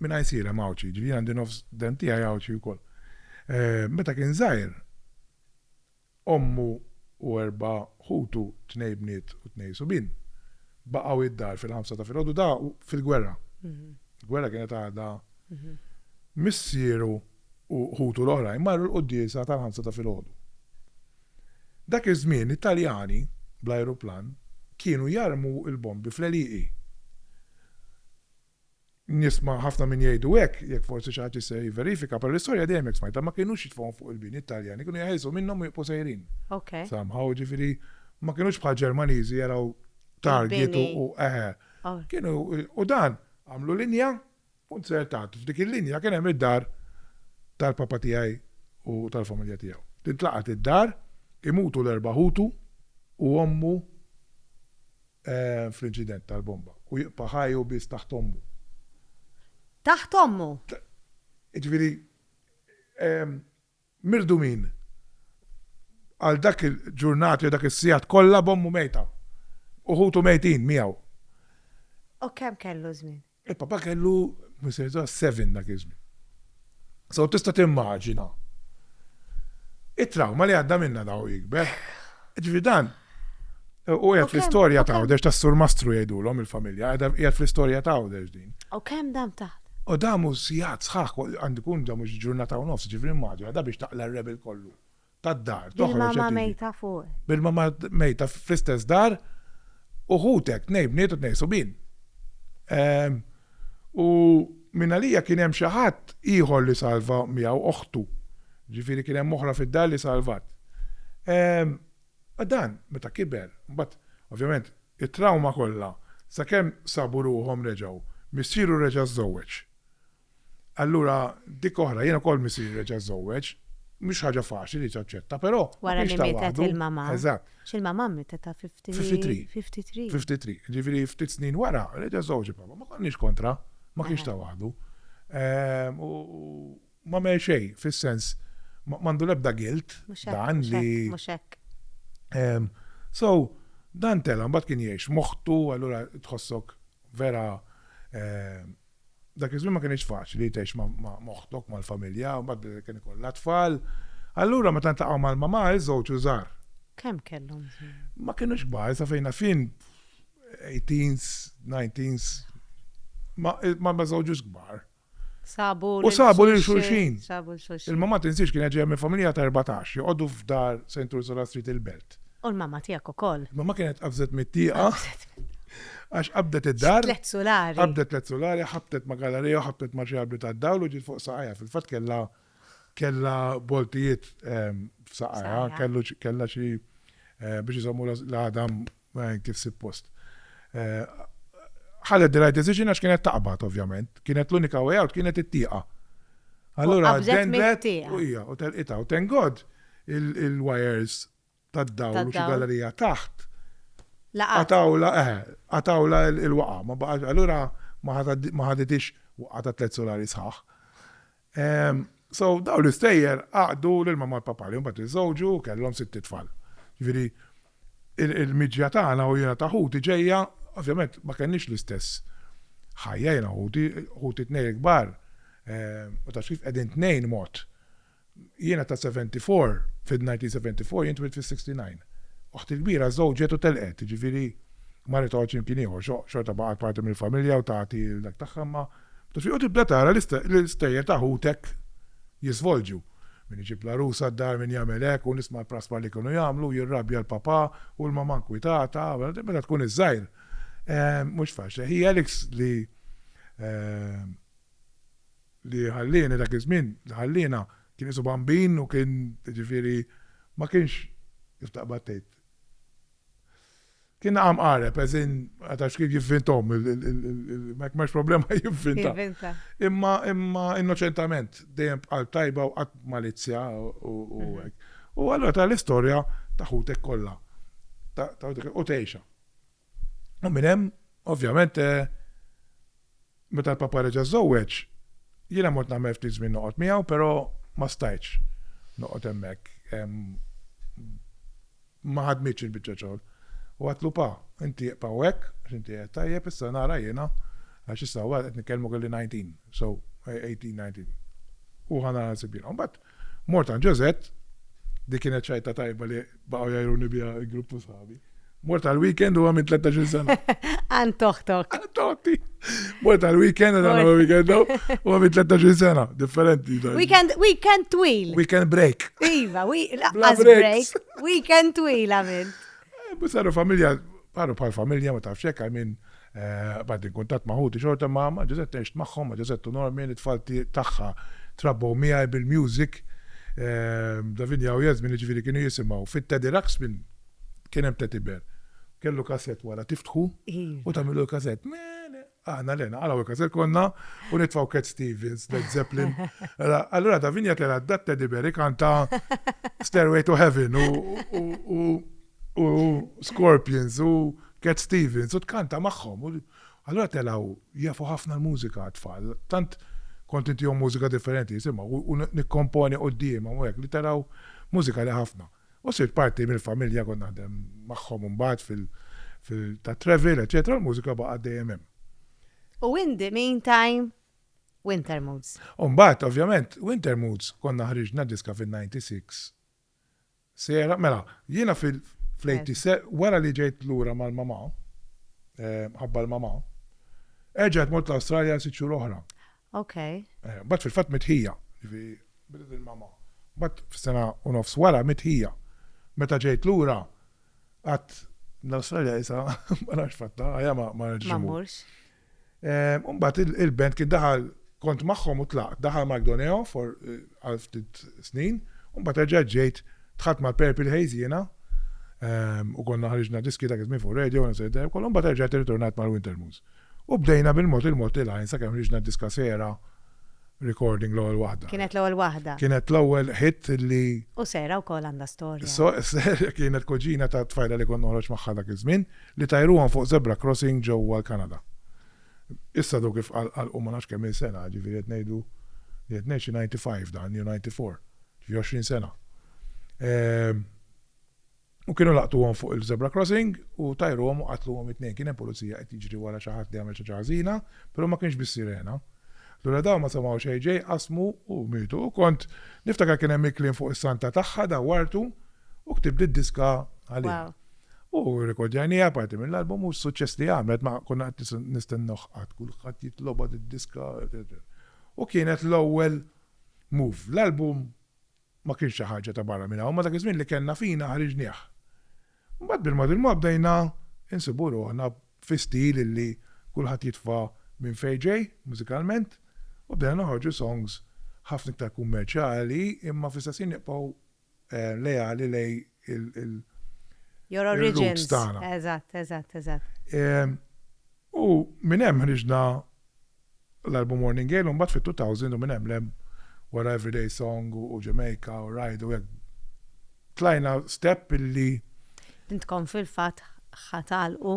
minn ICL hemm Għawdxi, ġifieri għandi nofs dent tiegħi Għawdxi wkoll. Ehm, meta kien żgħir, Ommu u erba' ħutu, tnejn bniet u tnejn subien, baqgħu id-dar fil-ħamsa ta' filgħodu da' fil-gwerra. Il-gwerra kienet għadha. Missieru u ħutu l-oħrajn marru l-quddiesa tal-ħamsa ta' filgħodu. Dak iż-żmien it-Taljani, bl-ajruplan, kienu jarmu l-bombi fl-għelieqi. Nisma' ħafna min jgħidu hekk, jekk forsi xi ħadd jista' jivverifika, però l-istorja dejjem hekk smajtha, ma kinux jitfgħuhom fuq il-bini t-Taljani, kienu jeħilsu minnhom u jibqgħu sejrin. Somehow, jiġifieri ma kinux bħal Ġermaniżi jaraw target u eħe. Kienu, u dan, għamlu linja u nzertat. F'dik il-linja kien hemm id-dar tal-papa tiegħi u tal-familja tiegħu. Tintlaqat id-dar, imutu l-erba' ħutu u ommu fl-inċident tal-bomba u jibqa' ħaj hu biss taħt ommu. Taħt ommu! Jiġifieri mirdumin għal dak il-ġurnati jew dak is-sigħat kollha b'ommu mejta u ħutu mejtin miegħu. U kemm kellu żmien? Il-Papa kellu missierietà seven dak iż-żmien. So tista' timmaġina it-trawma li għadda minnha da u jikber. Ġifieri dan u qiegħed fl-istorja ta' Għawdex tas-Sur Mastru jgħidulhom il-familja, qiegħed fl-istorja ta' Għawdex din. U kemm dam taħt? U damu sigħat sħaħ, għandu jkun damu ġurnata u nofs, ġifieri immaġina, da biex taqla' r-rebel kollu. tad-dar, toħroġ qed tiġi. Bil-mama mejta fuqek. Bil-mama mejta fl-istess dar u ħutek, nej bniet u tnej subin. Ehm, u minn għalija kien hemm xi ħadd ieħor li salva miegħu oħtu. Ġifieri kien hemm oħra fid-dar li salvat. Ehm, dan meta kiber, mbagħad ovvjament it-trauma kollha sakemm sabu ruhom reġgħu, missieru reġa' żżewweġ. Allura dik oħra, jien ukoll misir reġa' żżewweġ, mhux ħaġa faċli li taċċetta, però. Wara li mietet il-mama. Eżatt. X'il-mama mietet ta' 53. 53. 53. Ġifieri ftit snin wara, reġa' żżewweġ il-papa. Ma konniex kontra, ma kienx ta' waħdu. Ehm, u ma mel xejn, fis-sens, m'għandu l-ebda gilt dan li. Mhux hekk. Ehm, so, dan tela' mbagħad kien jgħix moħħtu, allura tħossok vera ehm, Dak iż-żmien ma kinitx faċli tgħix ma' oħtok, mal-familja, mbagħad kien ikollha tfal. Allura meta ntaqgħu mal-mamà iż-żewġ u żgħar. Kemm kellhom żmien? Ma kinux kbar, sa fejn naf jien eighteens, nineteens. Ma ma żewġux kbar. Sabu U sabu lil xulxin. Sabu lil xulxin. Il-mamà tinsiex kienet ġejja minn familja ta' erbatax, joqogħdu f'dar St. Ursula Street il-Belt. U l-mamma tiegħek ukoll. Mamma kienet qabżet mit-tieqa. Għax qabdet id-dar. Tliet sulari. Qabdet tliet sulari, ħabtet ma' galarija u ħabtet ma' xi arbri tad-dawl u ġiet fuq saqajha. Fil-fatt kellha kellha boltijiet f'saqajha, kellha xi biex iżommu l-għadam kif suppost. Ħadet the right decision għax kienet taqbad ovvjament. Kienet l-unika way out kienet it-tieqa. Allura qabdet mit-tieqa. U telqitha u tengod il-wires tad-dawl u xi gallerija taħt, qatgħulha, eh, qatgħulha l-waqgħa, ma baqax, allura ma ħaditix waqgħa ta' tliet sulari sħaħ. Ehm, so, dawn l-istejjer għaqdu l-mamma l papa li mbagħad iżżewġu kellhom sitt tfal. Ġifieri, il-miġja tagħna u jiena ta' ħuti ġejja, ovvjament ma kenniex l-istess ħajja jiena ħuti, ħuti tnejn kbar, eh, u ta' kif qegħdin tnejn mod. Jiena ta' 74, fid-1974, jien twilt fis-69. Oħti l-kbira żewġet u telqet, jiġifieri ma ritgħodx imkien ieħor, xorta baqgħet parti mill-familja u tagħti l-dak tagħha imma ta' xi u tibda tara l-istejjer ta' ħutek jiżvolġu. Min iġib l-għarusa d-dar, min jagħmel hekk u nisma' l-praspar li kienu jagħmlu, jirrabja l-papà u l-mamà nkwitata, meta tkun iż-żgħir mhux faċli. Hi Alex li li ħallieni dak iż-żmien, li ħalliena, kien qisu bambin u kien, jiġifieri, ma kienx, kif taqbad tgħid, kien naqa' mqareb, as in, ma tafx kif jivvinthom, ma hemmx problema jivvintha. Imma, imma innoċentament, dejjem b'qalb tajba u qatt b'malizzja u hekk. U allura tara l-istorja ta' ħutek kollha, u tgħixha. U minn hemm, ovvjament, eh, meta l-papa reġa' żżewweġ, jiena mod nagħmel ftit żmien noqgħod miegħu, però ma stajtx noqgħod hemmhekk. Ma ħadmitx il-biċċa xogħol. U għatlu pa, inti jqpaw hekk, inti qed tajjeb issa nara jiena għax issa wara qed nitkellmu kelli 19, so 18-19. U ħana nsib jiena. Mbagħad Mort għand Josette, di kienet ċajta tajba li baqgħu jajruni biha l-grupp ta' sħabi. Mort għal weekend u għamil 13 sena. Għan toħtok. Għan toħti. Mort għal weekend għan għamil weekend u għamil 13 sena. Differenti. Weekend, weekend twil. Weekend break. Iva, laqqas break. Weekend twil għamil. Eh, Saru familja, paru pal familja ma tafxek għamil Bqajt inkuntatt ma' ħuti xorta, ma' ma' Ġużett għixt magħhom, ma' Ġużett u Normin, it-tfal tagħha trabbew miegħi bil-music. Davinia u Yasmin jiġifieri kienu jisimgħu fit-Teddy Ruxpin, kien hemm Teddy Bear. Kellu kasett wara tiftħu u tagħmillu l-kasett. Aħna le, naqalgħu l-kasett konna u nitfgħu Cat Stevens, Led Zeppelin. Allura Davinia telgħet dat-Teddy Bear ikanta Stairway to Heaven u u Scorpions u Cat Stevens u tkanta magħhom. Allura telgħu jafu ħafna l-mużika għat-tfal. Tant kont intihom mużika differenti jisimgħu u nikkomponi quddiemhom u hekk li telgħu mużika li ħafna. U sirt parti mill-familja kont naħdem magħhom imbagħad tat-travel, eċċetera, u l-mużika baqgħet dejjem hemm. U in the meantime, Wintermoods. U mbagħad ovvjament Wintermoods konna ħriġna diska fin-'96 Sejra, mela, jiena fil, fl-80s, se, wara li ġejt lura mal-mamà, mħabba l-mamà, erġajt mort l-Awstralja għal sitt xhur oħra. Ok. Eh, mbagħad fil-fatt mitt ħija, ġifi, bidet il-mamà. Mbagħad f'sena u nofs wara mitt ħija. Meta ġejt lura, għadt, l-Awstralja isa, ma nafx fattha, ħajja ma, ma nerġax immur. Ma mmurx. Imbagħad il-band kien daħal kont magħhom u tlaqt. Daħal Mike Doneo for għal ftit snin u mbagħad reġgħet ġejt dħalt mal-Purple Haze jiena u konna ħriġna diski dak iż-żmien fuq radio u sejda wkoll u mbagħad erġajt irritornajt mal-Wintermoons. U bdejna bil-mod il-mod il-għajn sakemm ħriġna d-diska Sera recording l-ewwel waħda. Kienet l-ewwel waħda. Kienet l-ewwel hit li. U Sera wkoll għandha storja. Sera kienet kuġina tat-tfajla li kont noħroġ magħha dak iż-żmien. Li tajruhom fuq zebra crossing ġewwa l-Kanada. Issa dawk ifqalqu ma nafx kemm-il sena, ġifieri qed ngħidu li qed ngħid xi ninety five dan jew ninety four, ġifieri għoxrin sena. U kienu laqtuhom fuq il-zebra crossing u tajruhom u qatluhom it-tnejn. Kien hemm pulizija qed jiġri wara xi ħadd li għamel xi ħaġa ħażina, però ma kienx bis-sirena. Allura dawn ma semgħu xejn ġej, qasmu u mietu. U kont niftakar kien hemm il-kliem fuq is-santa tagħha dawwartu u ktibt id-diska għaliha. U rrekordjajniha parti mill-album u s-suċċess li għamlet ma konna qed nistennewh qatt, kulħadd jitlobha did-diska. U kienet l-ewwel move. L-album ma kienx xi ħaġa ta' barra minn hawn, imma dak iż-żmien li kellna fina ħriġnieh. Imbagħad bil-mod il-mod bdejna nsibu ruħna fi stil illi kulħadd jitfa' minn fejn ġej mużikalment u bdejna noħorġu songs ħafna iktar kummerċjali imma fl-istess ħin nibqgħu leali lejn il Your origins tagħna. Eżatt, eżatt, eżatt. U minn hemm ħriġna l-album Morning Gale u mbagħad fit-2000 u minn hemm lem wara Everyday Song u Jamaica u Ride u hekk. Tlajna step illi Intkom fil-fatt ħatalqu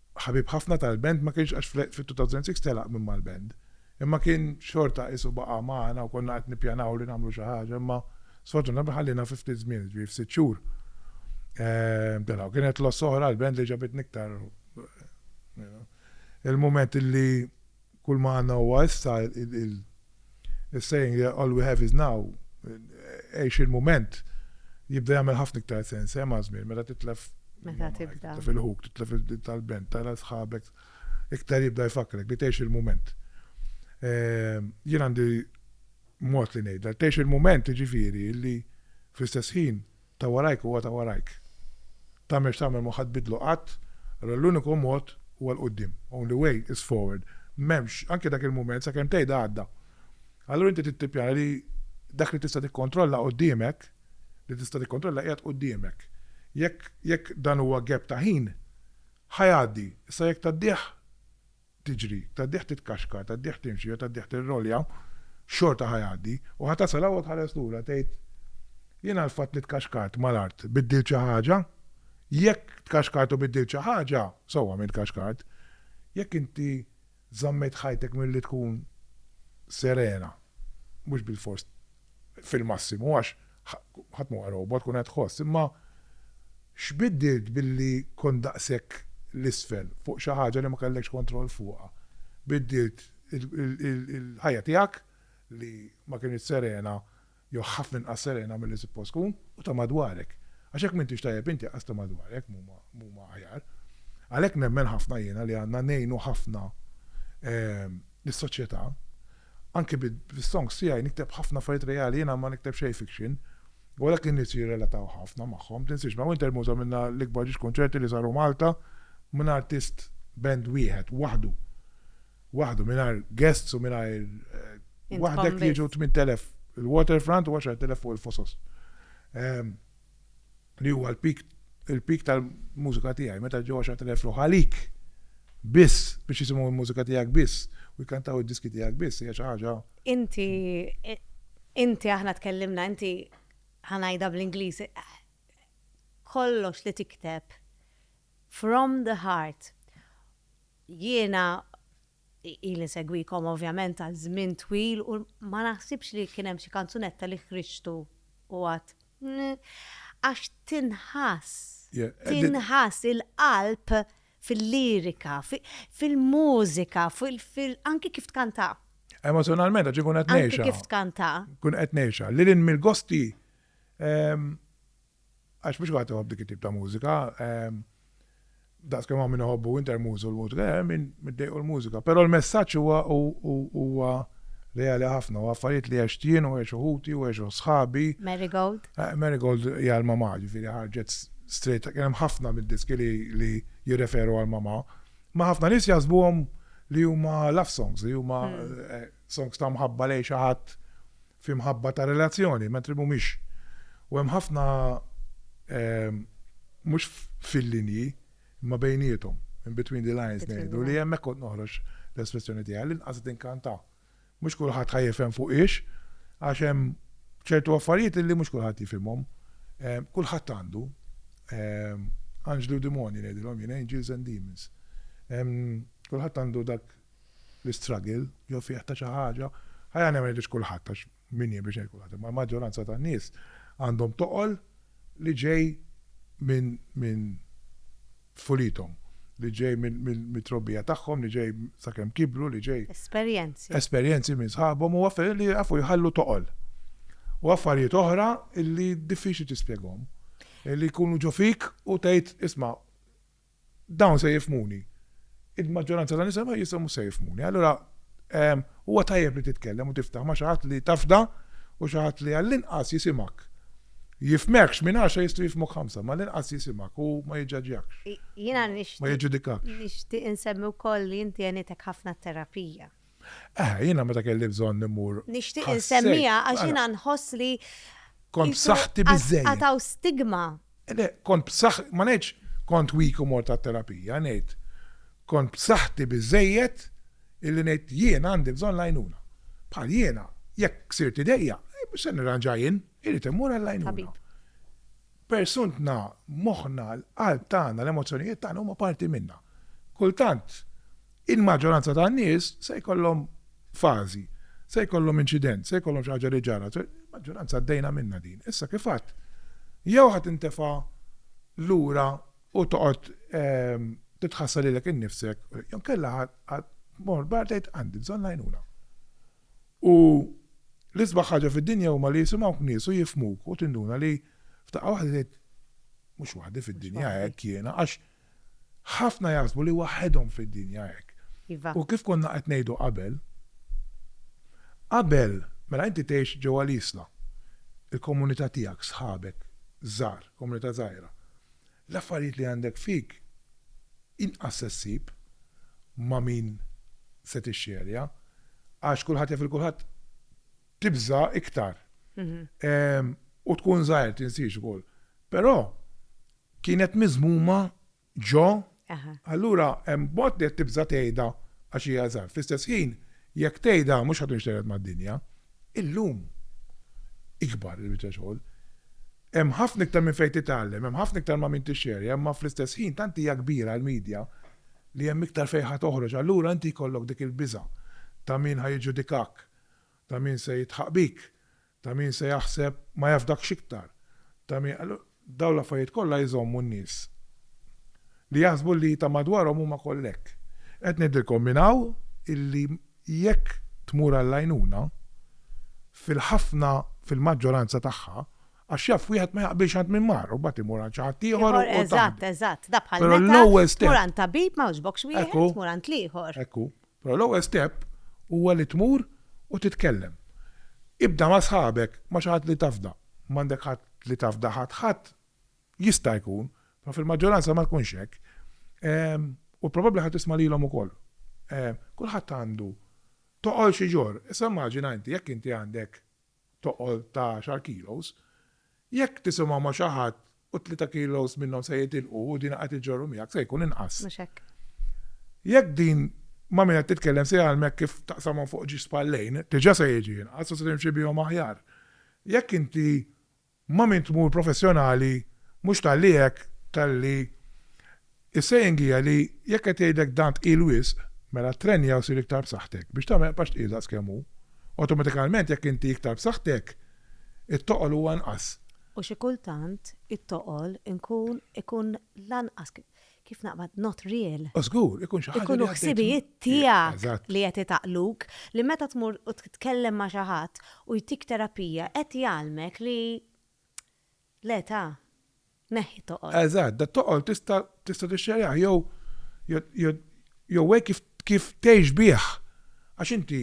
ħabib ħafna tal-band, ma kienx għax fit-2006 telaq minn mal-band, imma kien xorta qisu baqa' magħna u konna qed nippjanaw li nagħmlu xi ħaġa, imma sfortunatament ħalliena fi ftit żmien, jiġifieri f'sitt xhur telaq u kienet loss oħra għall-band li ġabitni iktar il-mument li, Kull ma għandna huwa issa, il-saying that all we have is now, għix il-mument, jibda jagħmel ħafna iktar sens, eh, maż-żmien, meta titlef. Meta tibda. Titlef il-ħuk, titlef il-talbent, tara sħabek, iktar jibda jfakkrek li tgħix il-mument. Ehm, jien għandi mod li ngħidha, tgħix il-mument ġifieri li fl-istess ħin Ta' warajk huwa ta' warajk. Tagħmel x'tagħmel mhu ħa tbiddlu qatt, allura l-uniku mod huwa 'l quddiem, only way is forward. M'hemmx, anke dak il-mument, sakemm tgħidha għadda. Allura inti trid tippjana li dak li tista' tikkontrolla quddiemek, li tista' tikkontrolla qiegħed quddiemek. Jekk, jekk dan huwa gap ta' ħin, ħa jgħaddi. Issa jekk tgħaddih, tiġri, tad-dieħ titkaxkar, tad-dieħ timxi jew tad-dieħ tirrolja, xorta ħa jgħaddi, u ħa tasal hawn u tħares lura tgħid, Jien għall-fatt li tkaxkart mal-art biddilt xi ħaġa? Jekk tkaxkart u biddilt xi ħaġa, sewwa minn tkaxkart. Jekk inti żammejt ħajtek milli tkun serena, mhux bilfors fil-massimu għax Ħadd m'huwa robot, tkun qed tħoss. Imma x'biddilt billi kont daqshekk 'l isfel fuq xi ħaġa li ma kellekx kontroll fuqha? Biddilt il-ħajja tiegħek li ma kinitx serena jew ħafna inqas serena milli suppost tkun u ta' madwarek. Għax jekk m'intix tajjeb inti qas ta' madwarek m'huma aħjar. Għalhekk nemmen ħafna jiena li għandna ngħinu ħafna lis-soċjetà. Anki bis-songs tiegħi nikteb ħafna affarijiet reali, jiena ma nikteb xejn fiction, u għalhekk in-nies jirrelataw ħafna magħhom. Tinsiex, ma' Winter Moods għamilna l-ikbar ġiex kunċerti li saru Malta minn artist band wieħed, waħdu. Waħdu, mingħajr guests u mingħajr waħdek jiġu 8,000 il-Waterfront u 10,000 fuq il-Fosos. li huwa l-peak il-peak tal-mużika tiegħi, meta ġew għaxart elef ruħ għalik biss biex jisimgħu l-mużika tiegħek biss u jkantaw id-diski tiegħek biss hija xi ħaġa. Inti inti aħna tkellimna inti ħa ngħidha bl-Ingliż kollox li tikteb from the heart jiena Ili nsegwikom ovvjament għal żmien twil u ma naħsibx li kien hemm xi kanzunetta li ħriġtu u għad għax tinħass, tinħass il-qalb fil-lirika, fil-mużika, anki kif tkantha. Emozzjonalment għax inkun qed ngħixha. Anki kif tkantha. Inkun qed ngħixha. Lil hinn mill-gosti Għax mhux kulħadd iħobb dik it-tip ta' mużika. Daqs kemm hawn min iħobbu Winter Moose u l-mużika, hemm min middejqu l-mużika. Però l-messaġġ huwa huwa reali ħafna, huwa affarijiet li għext jien u għexu ħuti u għexu sħabi. Marigold. Marigold hija l-mamà, ġifieri ħarġet straight, kien hemm ħafna mid-diski li jirreferu għall-mamà. Ma ħafna nies jaħsbuhom li huma love songs, li huma songs ta' mħabba lejn xi ħadd f'imħabba ta' relazzjoni, mentri mhumiex. U hemm ħafna mhux fil-linji, imma bejniethom, in between the lines ngħidu, li hemmhekk kont noħroġ l-espressjoni tiegħi li nqasad inkanta. Mhux kulħadd ħa jifhem fuq hiex, għax hemm ċertu affarijiet li mhux kulħadd jifhimhom. Kulħadd għandu anġli u dimoni ngħidilhom jien, angels and demons. Kulħadd għandu dak l-istruggle jew fih ta' xi ħaġa, ħaj aħna ma ngħidux kulħadd għax min jien biex ngħid kulħadd, imma l-maġġoranza tan-nies għandhom toqol li ġej minn minn tfulithom, li ġej mit-trobbija tagħhom, li ġej sakemm kibru, li ġej. Esperjenzi. Esperjenzi minn sħabhom u affarijiet li jafu jħallu toqol. U affarijiet oħra li diffiċli tispjegahom. Li jkunu ġo fik u tgħid isma' Dawn se jifhmuni. Il-maġġoranza ta' nisa ma jistgħu mhux se jifhmuni. Allura huwa tajjeb li titkellem u tiftaħ ma' xi ħadd li tafda u xi ħadd li għall-inqas jisimgħek. Jifhmekx minn għaxra jistgħu jifhmuk ħamsa, ma l-inqas jisimgħek u ma jiġġaġġjakx. Jiena nixtieq. Ma jiġġudikakx. Nixtieq insemmi wkoll li inti għenitek ħafna t-terapija. Eħe, jiena meta kelli bżonn immur. Nixtieq insemmiha għax jiena nħoss li. Kont b'saħħti biżżejjed. Għad hawn stigma. Le, kont b'saħħ, ma ngħidx kont weak u mort għat-terapija, ngħid kont b'saħħti biżżejjed illi ngħid jien għandi bżonn l-għajnuna. Bħal jiena, jekk sirt idejja, mhux se nirranġa jien, irid immur għall-għajnuna. Persuntna, moħħna, l-qalb tagħna, l-emozzjonijiet tagħna huma parti minna. Kultant Il-maġġoranza tan-nies se jkollhom fażi, se jkollhom inċident, se jkollhom xi ħaġa li ġara. Il-maġġoranza għaddejna minnha din. Issa kif għadt, jew ħa tintefa' lura u toqgħod ehm, titħassa lilek innifsek, jew kellha ħa mor bar tgħid għandi bżonn l-għajnuna. U l-isbaħ ħaġa fid-dinja huma li jisimgħu nies u jifmuk u tinduna li f'daqqa waħda tgħid mhux waħdi fid-dinja hekk jiena għax Ħafna jaħsbu li waħedhom fid-dinja hekk. Iva. U kif konna qed ngħidu qabel, qabel, mela inti tgħix ġewwa l-Isla, il-komunità tiegħek, sħabek, żgħar, komunità żgħira. L-affarijiet li għandek fik inqas se ssib ma' min se tixxerja għax kulħadd jaf lil kulħadd, tibża' iktar u tkun żgħir, tinsiex ukoll. Però Kienet miżmuma ġo, allura hemm mod li qed tibża' tgħidha għax hija żgħar. Fl-istess ħin, jekk tgħidha mhux ħadd jinxtered mad-dinja. Illum ikbar il-biċċa xogħol. Hemm ħafna iktar minn fejn titgħallem, hemm ħafna iktar ma' min tixxerja, imma fl-istess ħin tant hija kbira l-media li hemm iktar fejn ħa toħroġ. Allura inti jkollok dik il-biża' ta' min ħa jiġġudikak, ta' min se jidħaq bik, Ta' min se jaħseb ma jafdakx iktar, ta' min, dawn l-affarijiet kollha jżommu n-nies li jaħsbu li ta' madwarhom huma kollha hekk. Qed ngħidilkom minn hawn illi jekk tmur għall-għajnuna, fil-ħafna, fil-maġġoranza tagħha, għax jaf wieħed ma jaqbilx għand min mar u mbagħad imur għand xi ħadd ieħor u taħdem. Eżatt, eżatt, da bħal meta tmur għand tabib ma jogħġbokx wieħed tmur għand l-ieħor. Ekku, Però l-ewwel step huwa li tmur u titkellem. Ibda ma' sħabek, ma' xi ħadd li tafda. M'għandek ħadd li tafda ħadd ħadd? Jista' jkun, però fil-maġġoranza ma jkunx hekk. U probabbli ħa tisma' lilhom ukoll. Kulħadd għandu toqol xi jġorr. Issa immaġina inti jekk inti għandek toqol ta' għaxar kilos, jekk tisimgħu ma' xi ħadd u tlieta kilos minnhom se jitilqu u dina qed iġġorru miegħek se jkun inqas. Mhux hekk. Jekk din ma' min qed titkellem se jgħallmek kif taqsamhom fuq ġiex spallejn, diġà se jiġi inqas u se timxi bihom aħjar. Jekk inti Ma' min tmur professjonali mhux talli hekk talli is saying hija li jekk qed jgħidlek dan tqil wisq mela ttrenja u sir iktar b'saħħtek biex tagħmel paċ tqil daqs kemm hu. Awtomatikalment jekk inti iktar b'saħħtek it-toqol hu anqas. U xi kultant it-toqol inkun ikun l-anqas Kif naqbad not real. O żgur, ikun xi ħaġa li għaddejt. Ikunu ħsibijiet tiegħek li qed itaqluk li meta tmur u titkellem ma' xi ħadd u jtik terapija qed jgħallmek li le ta, neħħi t-toqol. Eżatt, dat-toqol tista' tixxerjah jew jew hekk kif tgħix bih. Għax inti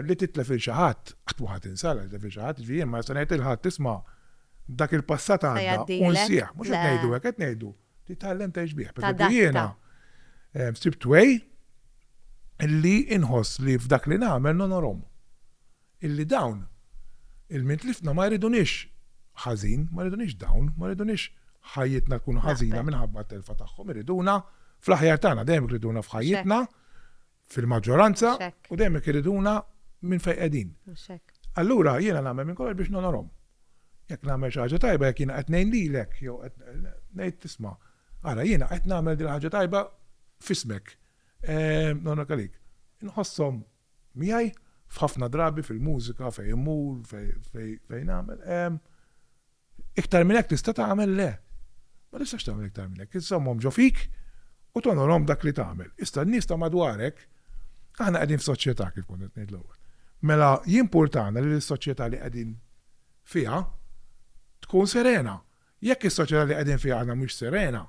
li titlef lil xi ħadd, qatt ma ħa tinsa li titlef lil xi ħadd, jiġifieri jien ma nista' ngħid lil ħadd isma' dak il-passat għadda u nsieh. Mhux qed ngħidu hekk, qed ngħidu titgħallem tgħix bih. Pereżempju jiena sibt way li inħoss li f'dak li nagħmel nonorhom. illi dawn, il-min tlifna, ma jridunix ħażin, ma jridunix dawn, ma jridunix ħajjitna tkun ħażina minħabba t-telfa tagħhom, iriduna fl-aħjar tagħna, dejjem iriduna f'ħajjitna, fil-maġġoranza, u dejjem iriduna minn fejn qegħdin. Allura jiena nagħmel minn kollox biex nonorhom. Jekk nagħmel xi ħaġa tajba, jekk jiena qed ngħin lilek, jew ngħid tisma', ara jiena qed nagħmel din ħaġa tajba fismek, nonor għalik. Inħossom miegħi f'ħafna drabi fil-mużika fejn immur fejn nagħmel iktar minn hekk tista' tagħmel le. Ma tistax tagħmel iktar minn hekk, iżżommhom ġo fik u tonorhom b'dak li tagħmel. Issa n-nies ta' madwarek aħna qegħdin f'soċjetà kif kont qed ngħid l-ewwel. Mela jimpurtana li s-soċjetà li qegħdin fiha tkun serena. Jekk is-soċjetà li qegħdin fiha aħna mhix serena,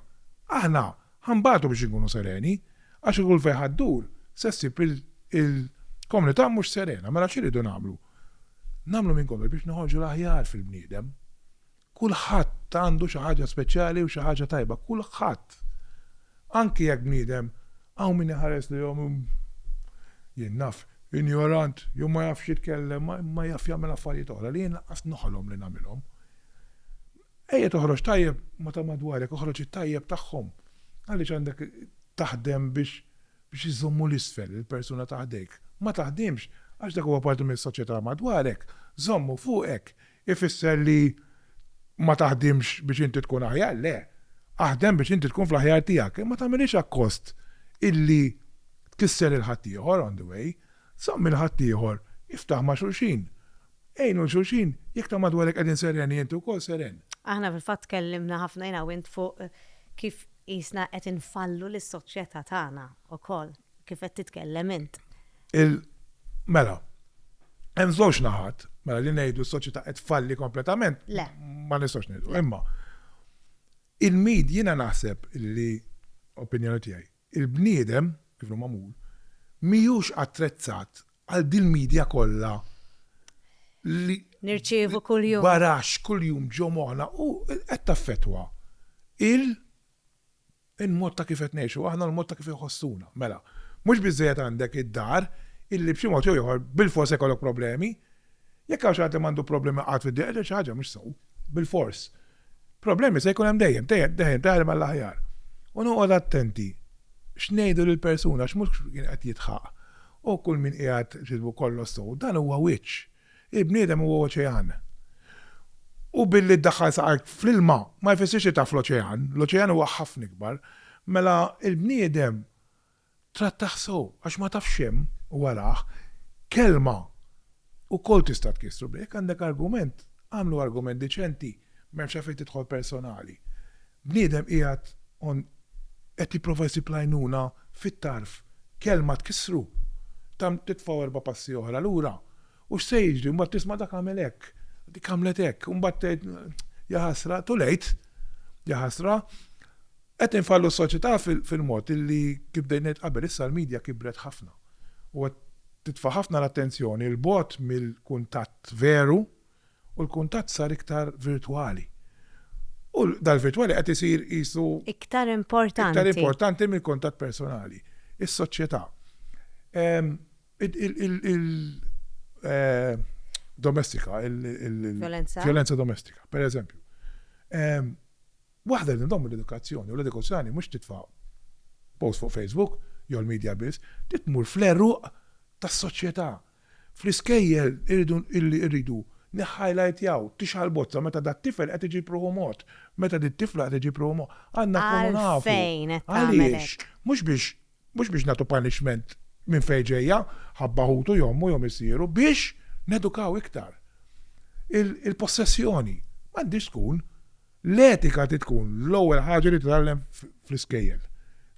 aħna ħa nbatu biex inkunu sereni, għax kieku l-fejħa ddur, se ssib il-komunità mhux serena. Mela x'irridu nagħmlu? Nagħmlu minn kollox biex noħorġu l-aħjar fil-bniedem. Kulħadd għandu xi ħaġa speċjali u xi ħaġa tajba, kulħadd. Anki jekk bniedem hawn min iħares lejhom jien naf injorant, jew ma jafx jitkellem, ma jaf jagħmel affarijiet oħra li jien lanqas noħolom li nagħmilhom. Ejja toħroġ tajjeb ma' ta' madwarek, oħroġ it-tajjeb tagħhom. Għaliex għandek taħdem biex biex iżommu l-isfel il-persuna ta' ħdejk? Ma taħdimx, għax dak huwa parti mis-soċjetà madwarek. Żommu fuqek ifisser li ma taħdimx biex inti tkun aħjar, le. Aħdem biex inti tkun fl-aħjar tiegħek, imma tagħmilhiex akkost illi tkisser lil ħaddieħor on the way. Żomm lil ħaddieħor, iftaħ ma' xulxin. Għinu 'l xulxin, jekk ta' madwarek qegħdin sereni inti wkoll seren. Aħna fil-fatt tkellimna ħafna jiena u int fuq kif qisna qed infallu lis-soċjetà tagħna wkoll, kif qed titkellem int. Il mela, hemm żewġ naħat, mela li ngħidu s-soċjetà qed tfalli kompletament, ma nistgħux ngħidu. Imma il-med, jiena naħseb li, opinjoni tiegħi, Il-bniedem, kif inhu magħmul, mhijiex attrezzat għal dil-media kollha li. Nirċievu kuljum. Baraxx kuljum ġo moħħna u qed taffettwa il, il-mod ta' kif qed ngħixu aħna u l-mod ta' kif inħossuna. Mela, mhux biżżejjed għandek id-dar illi b'xi mod jew ieħor bilfors se jkollok problemi, Jekk hawn xi ħadd li m'għandu problemi qatt fid-dinja qed jgħid xi ħaġa mhux sew, bilfors. Problemi se jkun hemm dejjem, dejjem, dejjem, dejjem għall-aħjar. U noqgħod attenti x'ngħidu lill-persuna għax mhux kien qed jidħaq. O kull min qiegħed x'ismu kollox sew, dan huwa wiċċ. Il-bniedem huwa oċean. U billi ddaħħal saqajk fl-ilma ma jfissirx li taf l-oċean, l-oċean huwa ħafna ikbar. Mela l-bniedem Trattah sew għax ma tafx x'hemm warah. Kelma ukoll tista' tkissru biha. Jekk għandek argument, agħmlu argument diċenti, m'hemmx għalfejn tidħol personali. Bniedem qiegħed on qed jipprova jsib l-għajnuna fit-tarf. Kelma tkissru, tagħmlu titfgħu erba' passi oħra lura. U x'se jiġri? Mbagħad tisma' dak għamel hekk, dik għamlet hekk. U mbagħad tgħid, Jaħasra, too late! Jaħasra! Qed infallu s-soċjetà fil-mod li kif bdejt ngħid qabel issa l-media kibret ħafna u qed titfa' ħafna l-attenzjoni 'l bogħod mill-kuntatt veru u l-kuntatt sar iktar virtwali u dal-virtwali qed isir qisu iktar importanti mill-kuntatt personali. Is-soċjetà, il-domestika, il-vjolenza domestika, pereżempju, Waħda li ndommu l-edukazzjoni u l-edukazzjoni mhux titfa' post fuq Facebook jew l-media biss, trid tmur fl-għeruq tas-soċjetà. Fl-iskejjel irridu irridu nihhajlajtjaw, tixgħal bozza meta dat-tifel qed iġib ruħu mod, meta dit-tifla qed iġib ruħu mod. Għandna nkunu nafu. Għalfejn qed tagħmel hekk? Għaliex? Mhux biex Mhux biex nagħtu punishment minn fejn ġejja, ħabba ħutu jew ommu jew missieru, biex nedukaw iktar. Il-possessjoni m'għandhiex tkun, l-etika trid tkun l-ewwel ħaġa li titgħallem fl-iskejjel.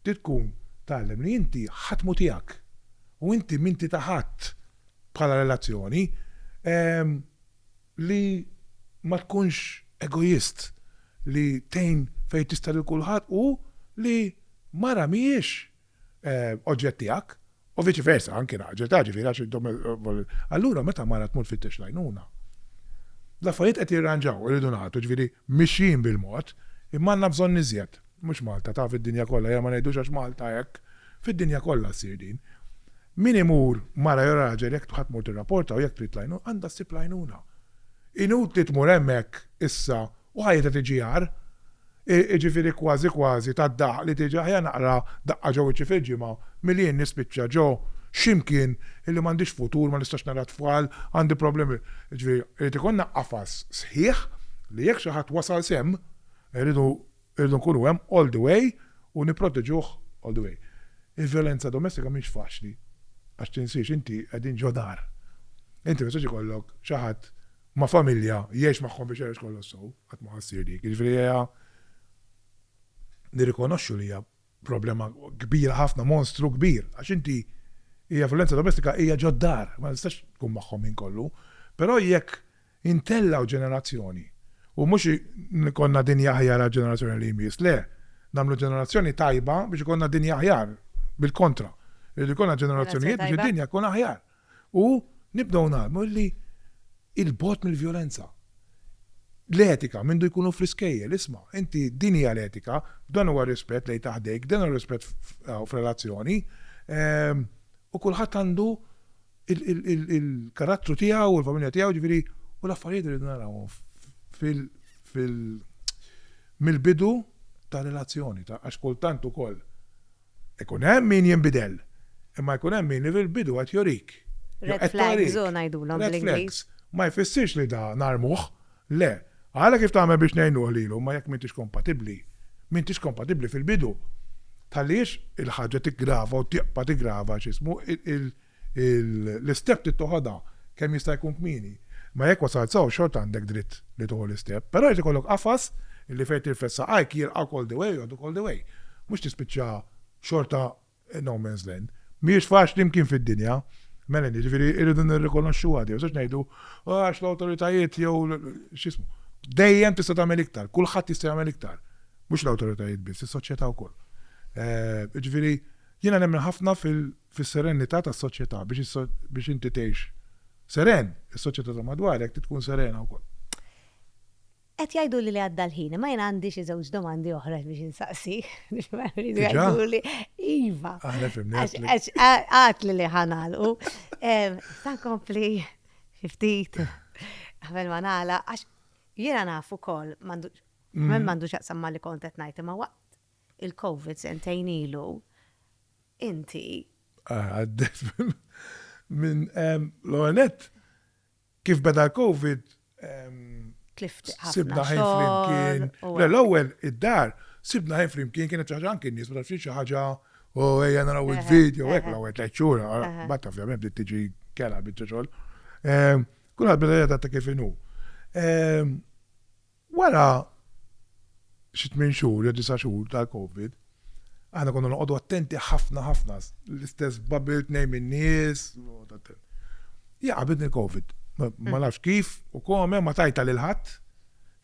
Trid tkun tgħallem li inti ħadd mhu tiegħek u inti m'inti ta' ħadd bħala relazzjoni. Li ma tkunx egoist, li tgħin fejn tista' lil kulħadd u li mara mhijiex oġġett tiegħek u viċi versa anki raġel, taf ġifieri għax intom allura meta mara tmur tfittex l-għajnuna l-affarijiet qed jirranġaw, irridu ngħatu, ġifieri mixjin bil-mod imma għandna bżonn iżjed. Mhux Malta, ta' fid-dinja kollha, ejja ma ngħidux għax Malta hekk, fid-dinja kollha ssir din. Min imur, mara jew raġel, jekk ħadd tmur tirrapporta u jekk trid l-għajnuna, għandha ssib l-għajnuna. Inutli tmur hemmhekk issa u ħajjitha tiġi agħar. Jiġifieri kważi kważi tad-dahq li tiġi aħjar naqra daqqa ġo wiċċi fil-ġimgħa milli jien nispiċċa ġo xi mkien illi m'għandix futur, ma nistax nara t-tfal, għandi problemi. Jiġifieri irid ikollna qafas sħiħ li jekk xi ħadd wasal s'hemm, irridu Irridu nkunu hemm all the way u nipproteġuh all the way. Il-vjolenza domestika mhix faċli għax tinsiex inti qegħdin ġo dar. Inti ma jistax ikollok xi ħadd ma' familja jgħix magħhom biex jgħix kollox sew, qatt ma ħa ssir dik. Jiġifieri ejja nirrikonoxxu li hija Problema kbira ħafna, monstru kbir, għax inti hija vjolenza domestika hija ġod-dar, ma tistax tkun magħhom ħin kollu. Però jekk intellgħu ġenerazzjoni u mhux ikollna dinja aħjar għall-ġenerazzjoni li jmiss, le, nagħmlu ġenerazzjoni tajba biex ikollna dinja aħjar, bil-kontra, irid ikollna ġenerazzjonijiet biex id-dinja tkun aħjar. u nibdew ngħallmu illi 'il bogħod mill-vjolenza. L-etika mindu jkunu fl-iskejjel, isma', inti din hija l-etika, dan huwa r-rispett lejn ta' ħdejk, dan huwa r-rispett f'relazzjoni, u kulħadd għandu l-karattru tiegħu u l-familja tiegħu, jiġifieri u l-affarijiet irridu narawhom fil mill-bidu tar-relazzjoni, għax kultant ukoll Ikun hemm min jinbidel, imma jkun hemm min fil-bidu qed jurik. Jew qed tawrik. Red flags u ngħidulhom bl-Ingliż. Red flags. Ma jfissirx li da narmuh. Le. Ara kif tagħmel biex ngħinuh lilu, imma jekk m'intix kompatibbli, m'intix kompatibbli fil-bidu. Tħallihiex il-ħaġa tiggrava u tibqa' tiggrava x'ismu, il, l-istep trid toħodha kemm jista' jkun kmieni. Imma jekk wasalt sew xorta għandek dritt li tieħu l-istep. Però jrid ikollok qafas li fejn tirfed saqajk jilqgħuk all the way u jgħodduk all the way. Mhux tispiċċa xorta no man's land. Mhijiex faċli mkien fid-dinja, Melanie, ġifieri rridu nirrikonoxxuha di, mhux ngħidu għax l-awtoritajiet jew x'ismu. Dejjem tista' tagħmel iktar, kulħadd jista' jagħmel iktar. Mhux l-awtoritajiet biss, is-soċjetà wkoll. Jiġifieri jiena nemmen ħafna fil- fis-serennità tas-soċjetà, biex inti tgħix seren, is-soċjetà ta' madwarek trid tkun serena wkoll. Qed jgħiduli li għadda l-ħin, imma jien għandi xi żewġ domandi oħra biex insaqsik. Diġà? Iva. Aħna fimni. Għax għatli li ħanalqu. Sa nkompli xi ftit qabel ma nagħla għax jiena naf ukoll m'għandu mm. m'għandux jaqsam ma li kont qed ngħid imma waqt il-COVID sentejn ilu inti. Għaddejt minn l-ewwel nett kif beda l-Covid tlift ħafna. Sibna ħin flimkien. L-ewwel id-dar sibna ħin flimkien kienet xi ħaġa anki nies ma tafx xi ħaġa u ejja naraw il-video hekk l-ewwel tliet xhur. Bad taf ovvjament bdiet tiġi kera biċċa xogħol. Kulħadd beda jgħid ta' kif inhu. Wara xi tmien xhur jew disa' xhur tal-Covid, aħna konna noqogħdu attenti ħafna ħafna, l-istess bubble tnejn min-nies, hija qabidni l-Covid. Ma nafx kif u kome ma tajta lil ħadd,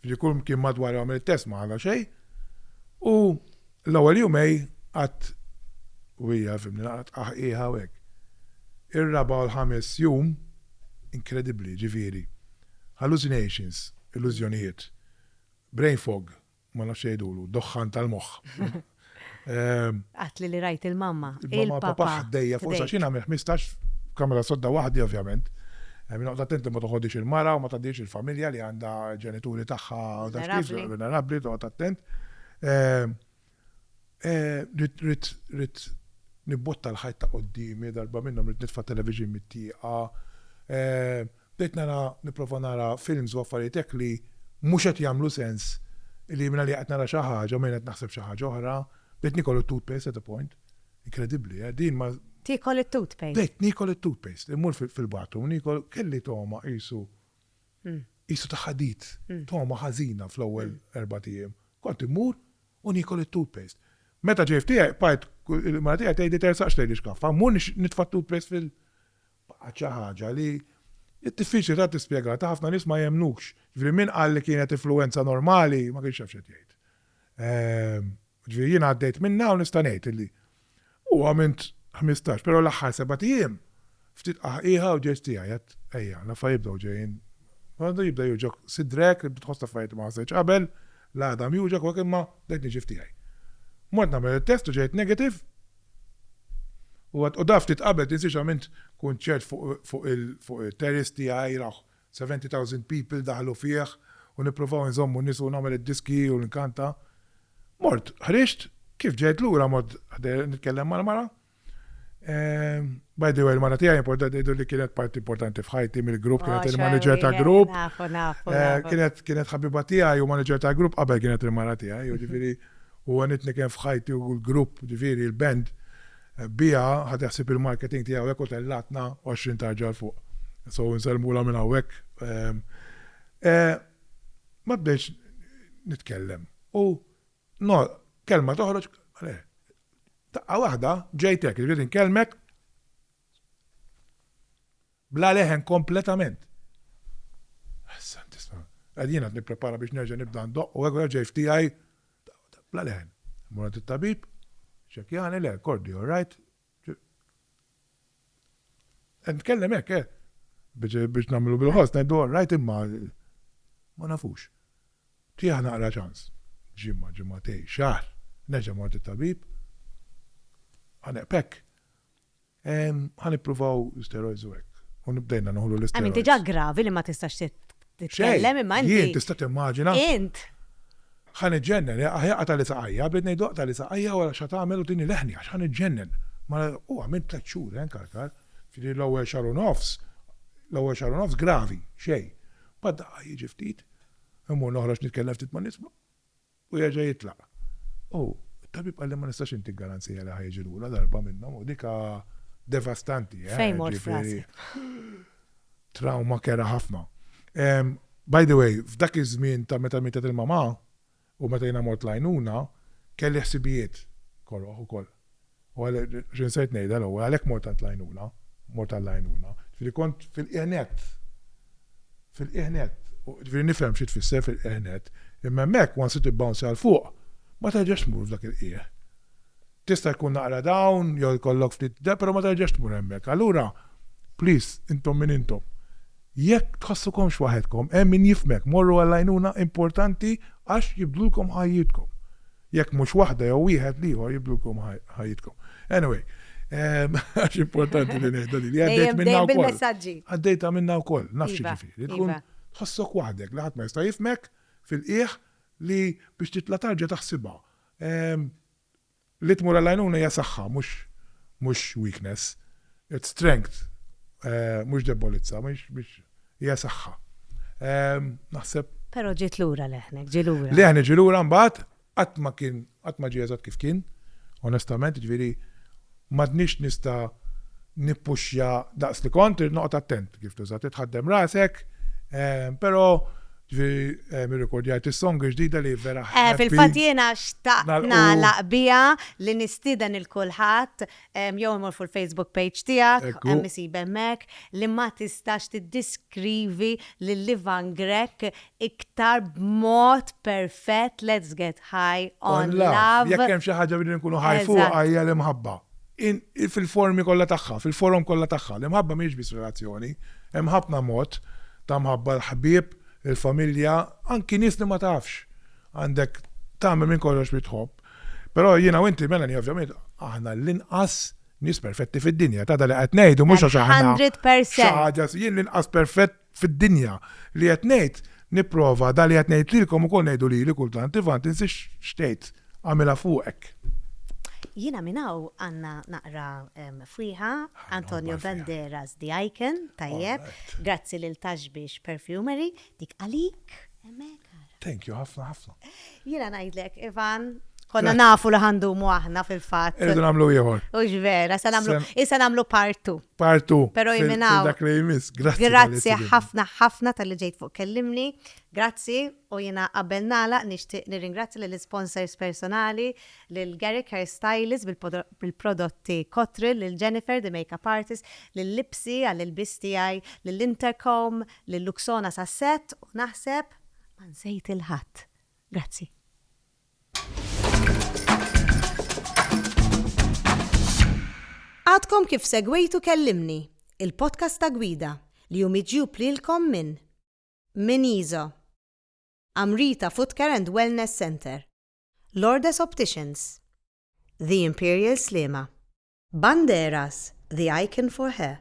ġifieri kull mkien madwar għamel it-test ma ħalla xejn. U l-ewwel jumej qatt u hija fimni laqgħet qaħqieħa u hekk. Ir-raba' u l-ħames jum inkredibbli, ġifieri. Hallucinations, illużjonijiet. Brain fog, ma nafx jgħidulu, doħħan tal-moħħ. Għedtli li rajt il-mamma, il-papà. Il-papà ħdejja fuq għax jien għamilt ħmistax f'kamra sodda waħdi ovvjament. Noqgħod attent li ma toħodhiex il-mara u ma tgħaddihiex il-familja li għandha ġenituri tagħha vulnerabbli, toqgħod attent. Ridt nibbotta l-ħajt ta' quddiemi, darba minnhom ridt nitfa' t-television mit-tieqa. Bdejt nara, nipprova nara films u affarijiet hekk li mhux qed jagħmlu sens li mingħalija qed nara xi ħaġa u mingħajr qed naħseb xi ħaġa oħra. Bdejt nikol it-toothpaste at a point. Inkredibbli, eh? Din ma. Tiekol it-toothpaste? Bdejt niekol it-toothpaste. Immur fil-bathroom u niekol, kelli togħma qisu qisu ta' ħadid, togħma ħażina fl-ewwel erbat ijiem. Kont immur u niekol it-toothpaste. Meta ġej f'tiegħi bqajt il-mara tiegħi tgħidli tersaqx lejn ix-xkaffa, mmur nitfa' t-toothpaste fil. Baqgħet xi ħaġa li hi diffiċli tant tispjegata, ħafna nies ma jemmnukx. Jiġifieri min qal li kienet influwenza normali ma kienx jaf x'qed jgħid. Ġifieri jiena għaddejt minnha u nista' ngħid illi u għamilt ħmistax, però l-aħħar sebat ijiem ftit qaħqieħa u ġeġ tiegħi għedt ejja, l-affarijiet bdew ġejjin. Għadu jibda jewġgħok sidrek, tibda tħoss affarijiet li ma ħassejtx qabel, l-għadam jewġgħok u hekk imma bdejt niġi f'tiegħi. Mort nagħmel it-test u ġejt negative u għad u daf ftit qabel tinsiex għamilt kunċert fuq fuq il-terrace tiegħi, Seventy thousand people daħlu fih u nippruvaw inżommu n-nies u nagħmel id-diski u nkanta. Mort, ħriġt, kif ġejt lura mort ħdejha nitkellem mal-mara. By the way, il-mara tiegħi importanti ngħidu li kienet parti importanti f'ħajti mill-grupp, kienet il-manager ta' grupp. Kienet ħabiba tiegħi u manager ta' grupp qabel kienet il-mara tiegħi, jiġifieri u għanitni kien f'ħajti u l-grupp, jiġifieri l-band. Biha ħadd iħsib il-marketing tiegħu hekk u tellgħatna għoxrin tarġa 'l fuq. So nsellmulha minn hawnhekk. E ma bdejtx nitkellem u no kelma toħroġ le. Daqqa waħda ġejt hekk, irrid inkellmek. Bla leħen kompletament. Ħassan tisma'. Qed jien qed nipprepara biex nerġa' nibda ndoqq u hekk u ġej f'tiegħi bla leħen. Immur għand it-tabib, iċċekkjani, le, kordi all right. Qed nitkellem hekk, eh! Biex nagħmlu bil-ħoss ngħidu all right imma ma nafux. Tieha naqra ċans. Ġimgħa, ġimgħatejn, xahar, nerġa' mort it-tabib. Ħaneqb hekk. Ehm, ħa nippruvaw steroids u hekk. U nibdejna noħlu l-isteroids. Għamin diġa gravi li ma tistax titkellem imma inti. Jien tista' timmaġina. Int. Ħa niġġennen, eh, aħja qata li saqajja, bdiet ngħidu qata li saqajja wara xa tagħmel u tini leħni għax ħa niġġennen. Ma u għamilt tliet xhur, eh, nkarkar. Ġifieri l-ewwel xahar u nofs, l-ewwel xahar u nofs gravi, xejn. Bad daqqa jiġi ftit, imur noħroġ nitkellem ftit ma' nies, U jerġa' jitlaq. U t-tabib qalli ma nistax intik garanzija li ħa jiġi lura darba minnhom u dik devastanti, eh. Fejn mort f'rasi. Trawma kerha ħafna. By the way, f'dak iż-żmien ta' meta mietet il-mamà u meta jiena mort l-għajnuna, kelli ħsibijiet koroh ukoll. U għalhekk, xi nsejt ngħidha l-ewwel, għalhekk mort għand l-għajnuna, mort għall-għajnuna, ġifieri kont fil-qiegħ nett, fil-qiegħ nett, ġifieri nifhem xi tfisser fil-qiegħ nett, imma hemmhekk once li tibbounce għal fuq, ma terġax tmur f'dak il-qiegħ. Tista' jkun naqra down jew jkollok ftit da, però ma terġax tmur hemmhekk. Allura, please, intom min intom, jekk tħossukomx waħedkom, hemm min jifhmek, morru għall-għajnuna, importanti għax jibdlulkom ħajjitkom. Jekk mhux waħda jew wieħed l-ieħor jibdulkom ħajjitkom. Anyway, ehm, għax importanti li ngħidha li għaddejt minna wkoll. Għaddejta minna wkoll, nafx iva, ġifieri. Tkun iva. tħossok waħdek li ħadd ma jista' jifmek fil-qiegħ li biex titla' tarġa taħsibha. Ehm, li tmur għal-għajnuna hija saħħa, mhux weakness. It's strength, mhux debbolizza, mhux hija saħħa. Naħseb. Però ġiet lura leħnek, ġie lura. Leħni ġie lura mbagħad qatt ma kien qatt ma ġie eżatt kif kien, onestament, ġifieri m'għadniex nista' nippuxja daqs li kont, irid noqgħod attent kif tuża, trid tħaddem rasek, però ġifieri nirrikordjajt is-song il-ġdida li vera. Fil-fatt jiena xtaqt nagħlaq biha li nistieden lil kulħadd Jew immur fuq il-Facebook page tiegħek, hemm isib hemmhekk, li ma tistax tiddiskrivi lil Ivan Grech iktar b'mod perfett, let's get high on love. Jekk hemm xi ħaġa li rridu nkunu high fuqha hija l-imħabba. Fil-formi kollha tagħha, fil-forom kollha tagħha. L-imħabba mhijiex biss relazzjoni, hemm ħafna mod ta' mħabba, l-ħbieb, il-familja, anki nies li ma tafx. Għandek tagħmel minn kollox li tħobb. Però jiena u inti, Melanie, ovvjament, aħna l-inqas nies perfetti fid-dinja. Tada li qed ngħidu mhux għax aħna. 100%. Jien l-inqas perfett fid-dinja li qed ngħid nipprova da li qed ngħid lilkom ukoll ngħidu lili kultant Ivan tinsiex xtejt għamilha fuqek. Jiena minn hawn għandna naqra fwieħa Antonio Banderas The Icon, tajjeb, grazzi lil Taxbix Perfumery, dik għalik. Thank you, ħafna, ħafna. Jina najdlek, Ivan, konna nafu li ħandumu aħna fil-fat. Irridu namlu jħor. Ux vera, sa namlu, issa namlu partu. Partu. Pero jiminaw. Dak li jmiss, grazzi. Grazzi ħafna, ħafna tal-li ġejt fuq kellimni. Grazzi u jina qabel nala nishtiq nirringrazzi l-sponsors personali, l-Garrick Hair Stylist bil-prodotti Kotril, l-Jennifer, the makeup artist, l-Lipsi għall-ilbis tijaj, l-Intercom, Lil Luxona Sasset u naħseb ma nsejt il ħadd. Grazzi. Għadkom kif segwejtu Kellimni, il-podcast ta' gwida li hu miġjub lilkom minn Min Iżo, Amrita Footcare and Wellness Centre, Lourdes Opticians, The Imperial Sliema, Banderas, the icon for hair,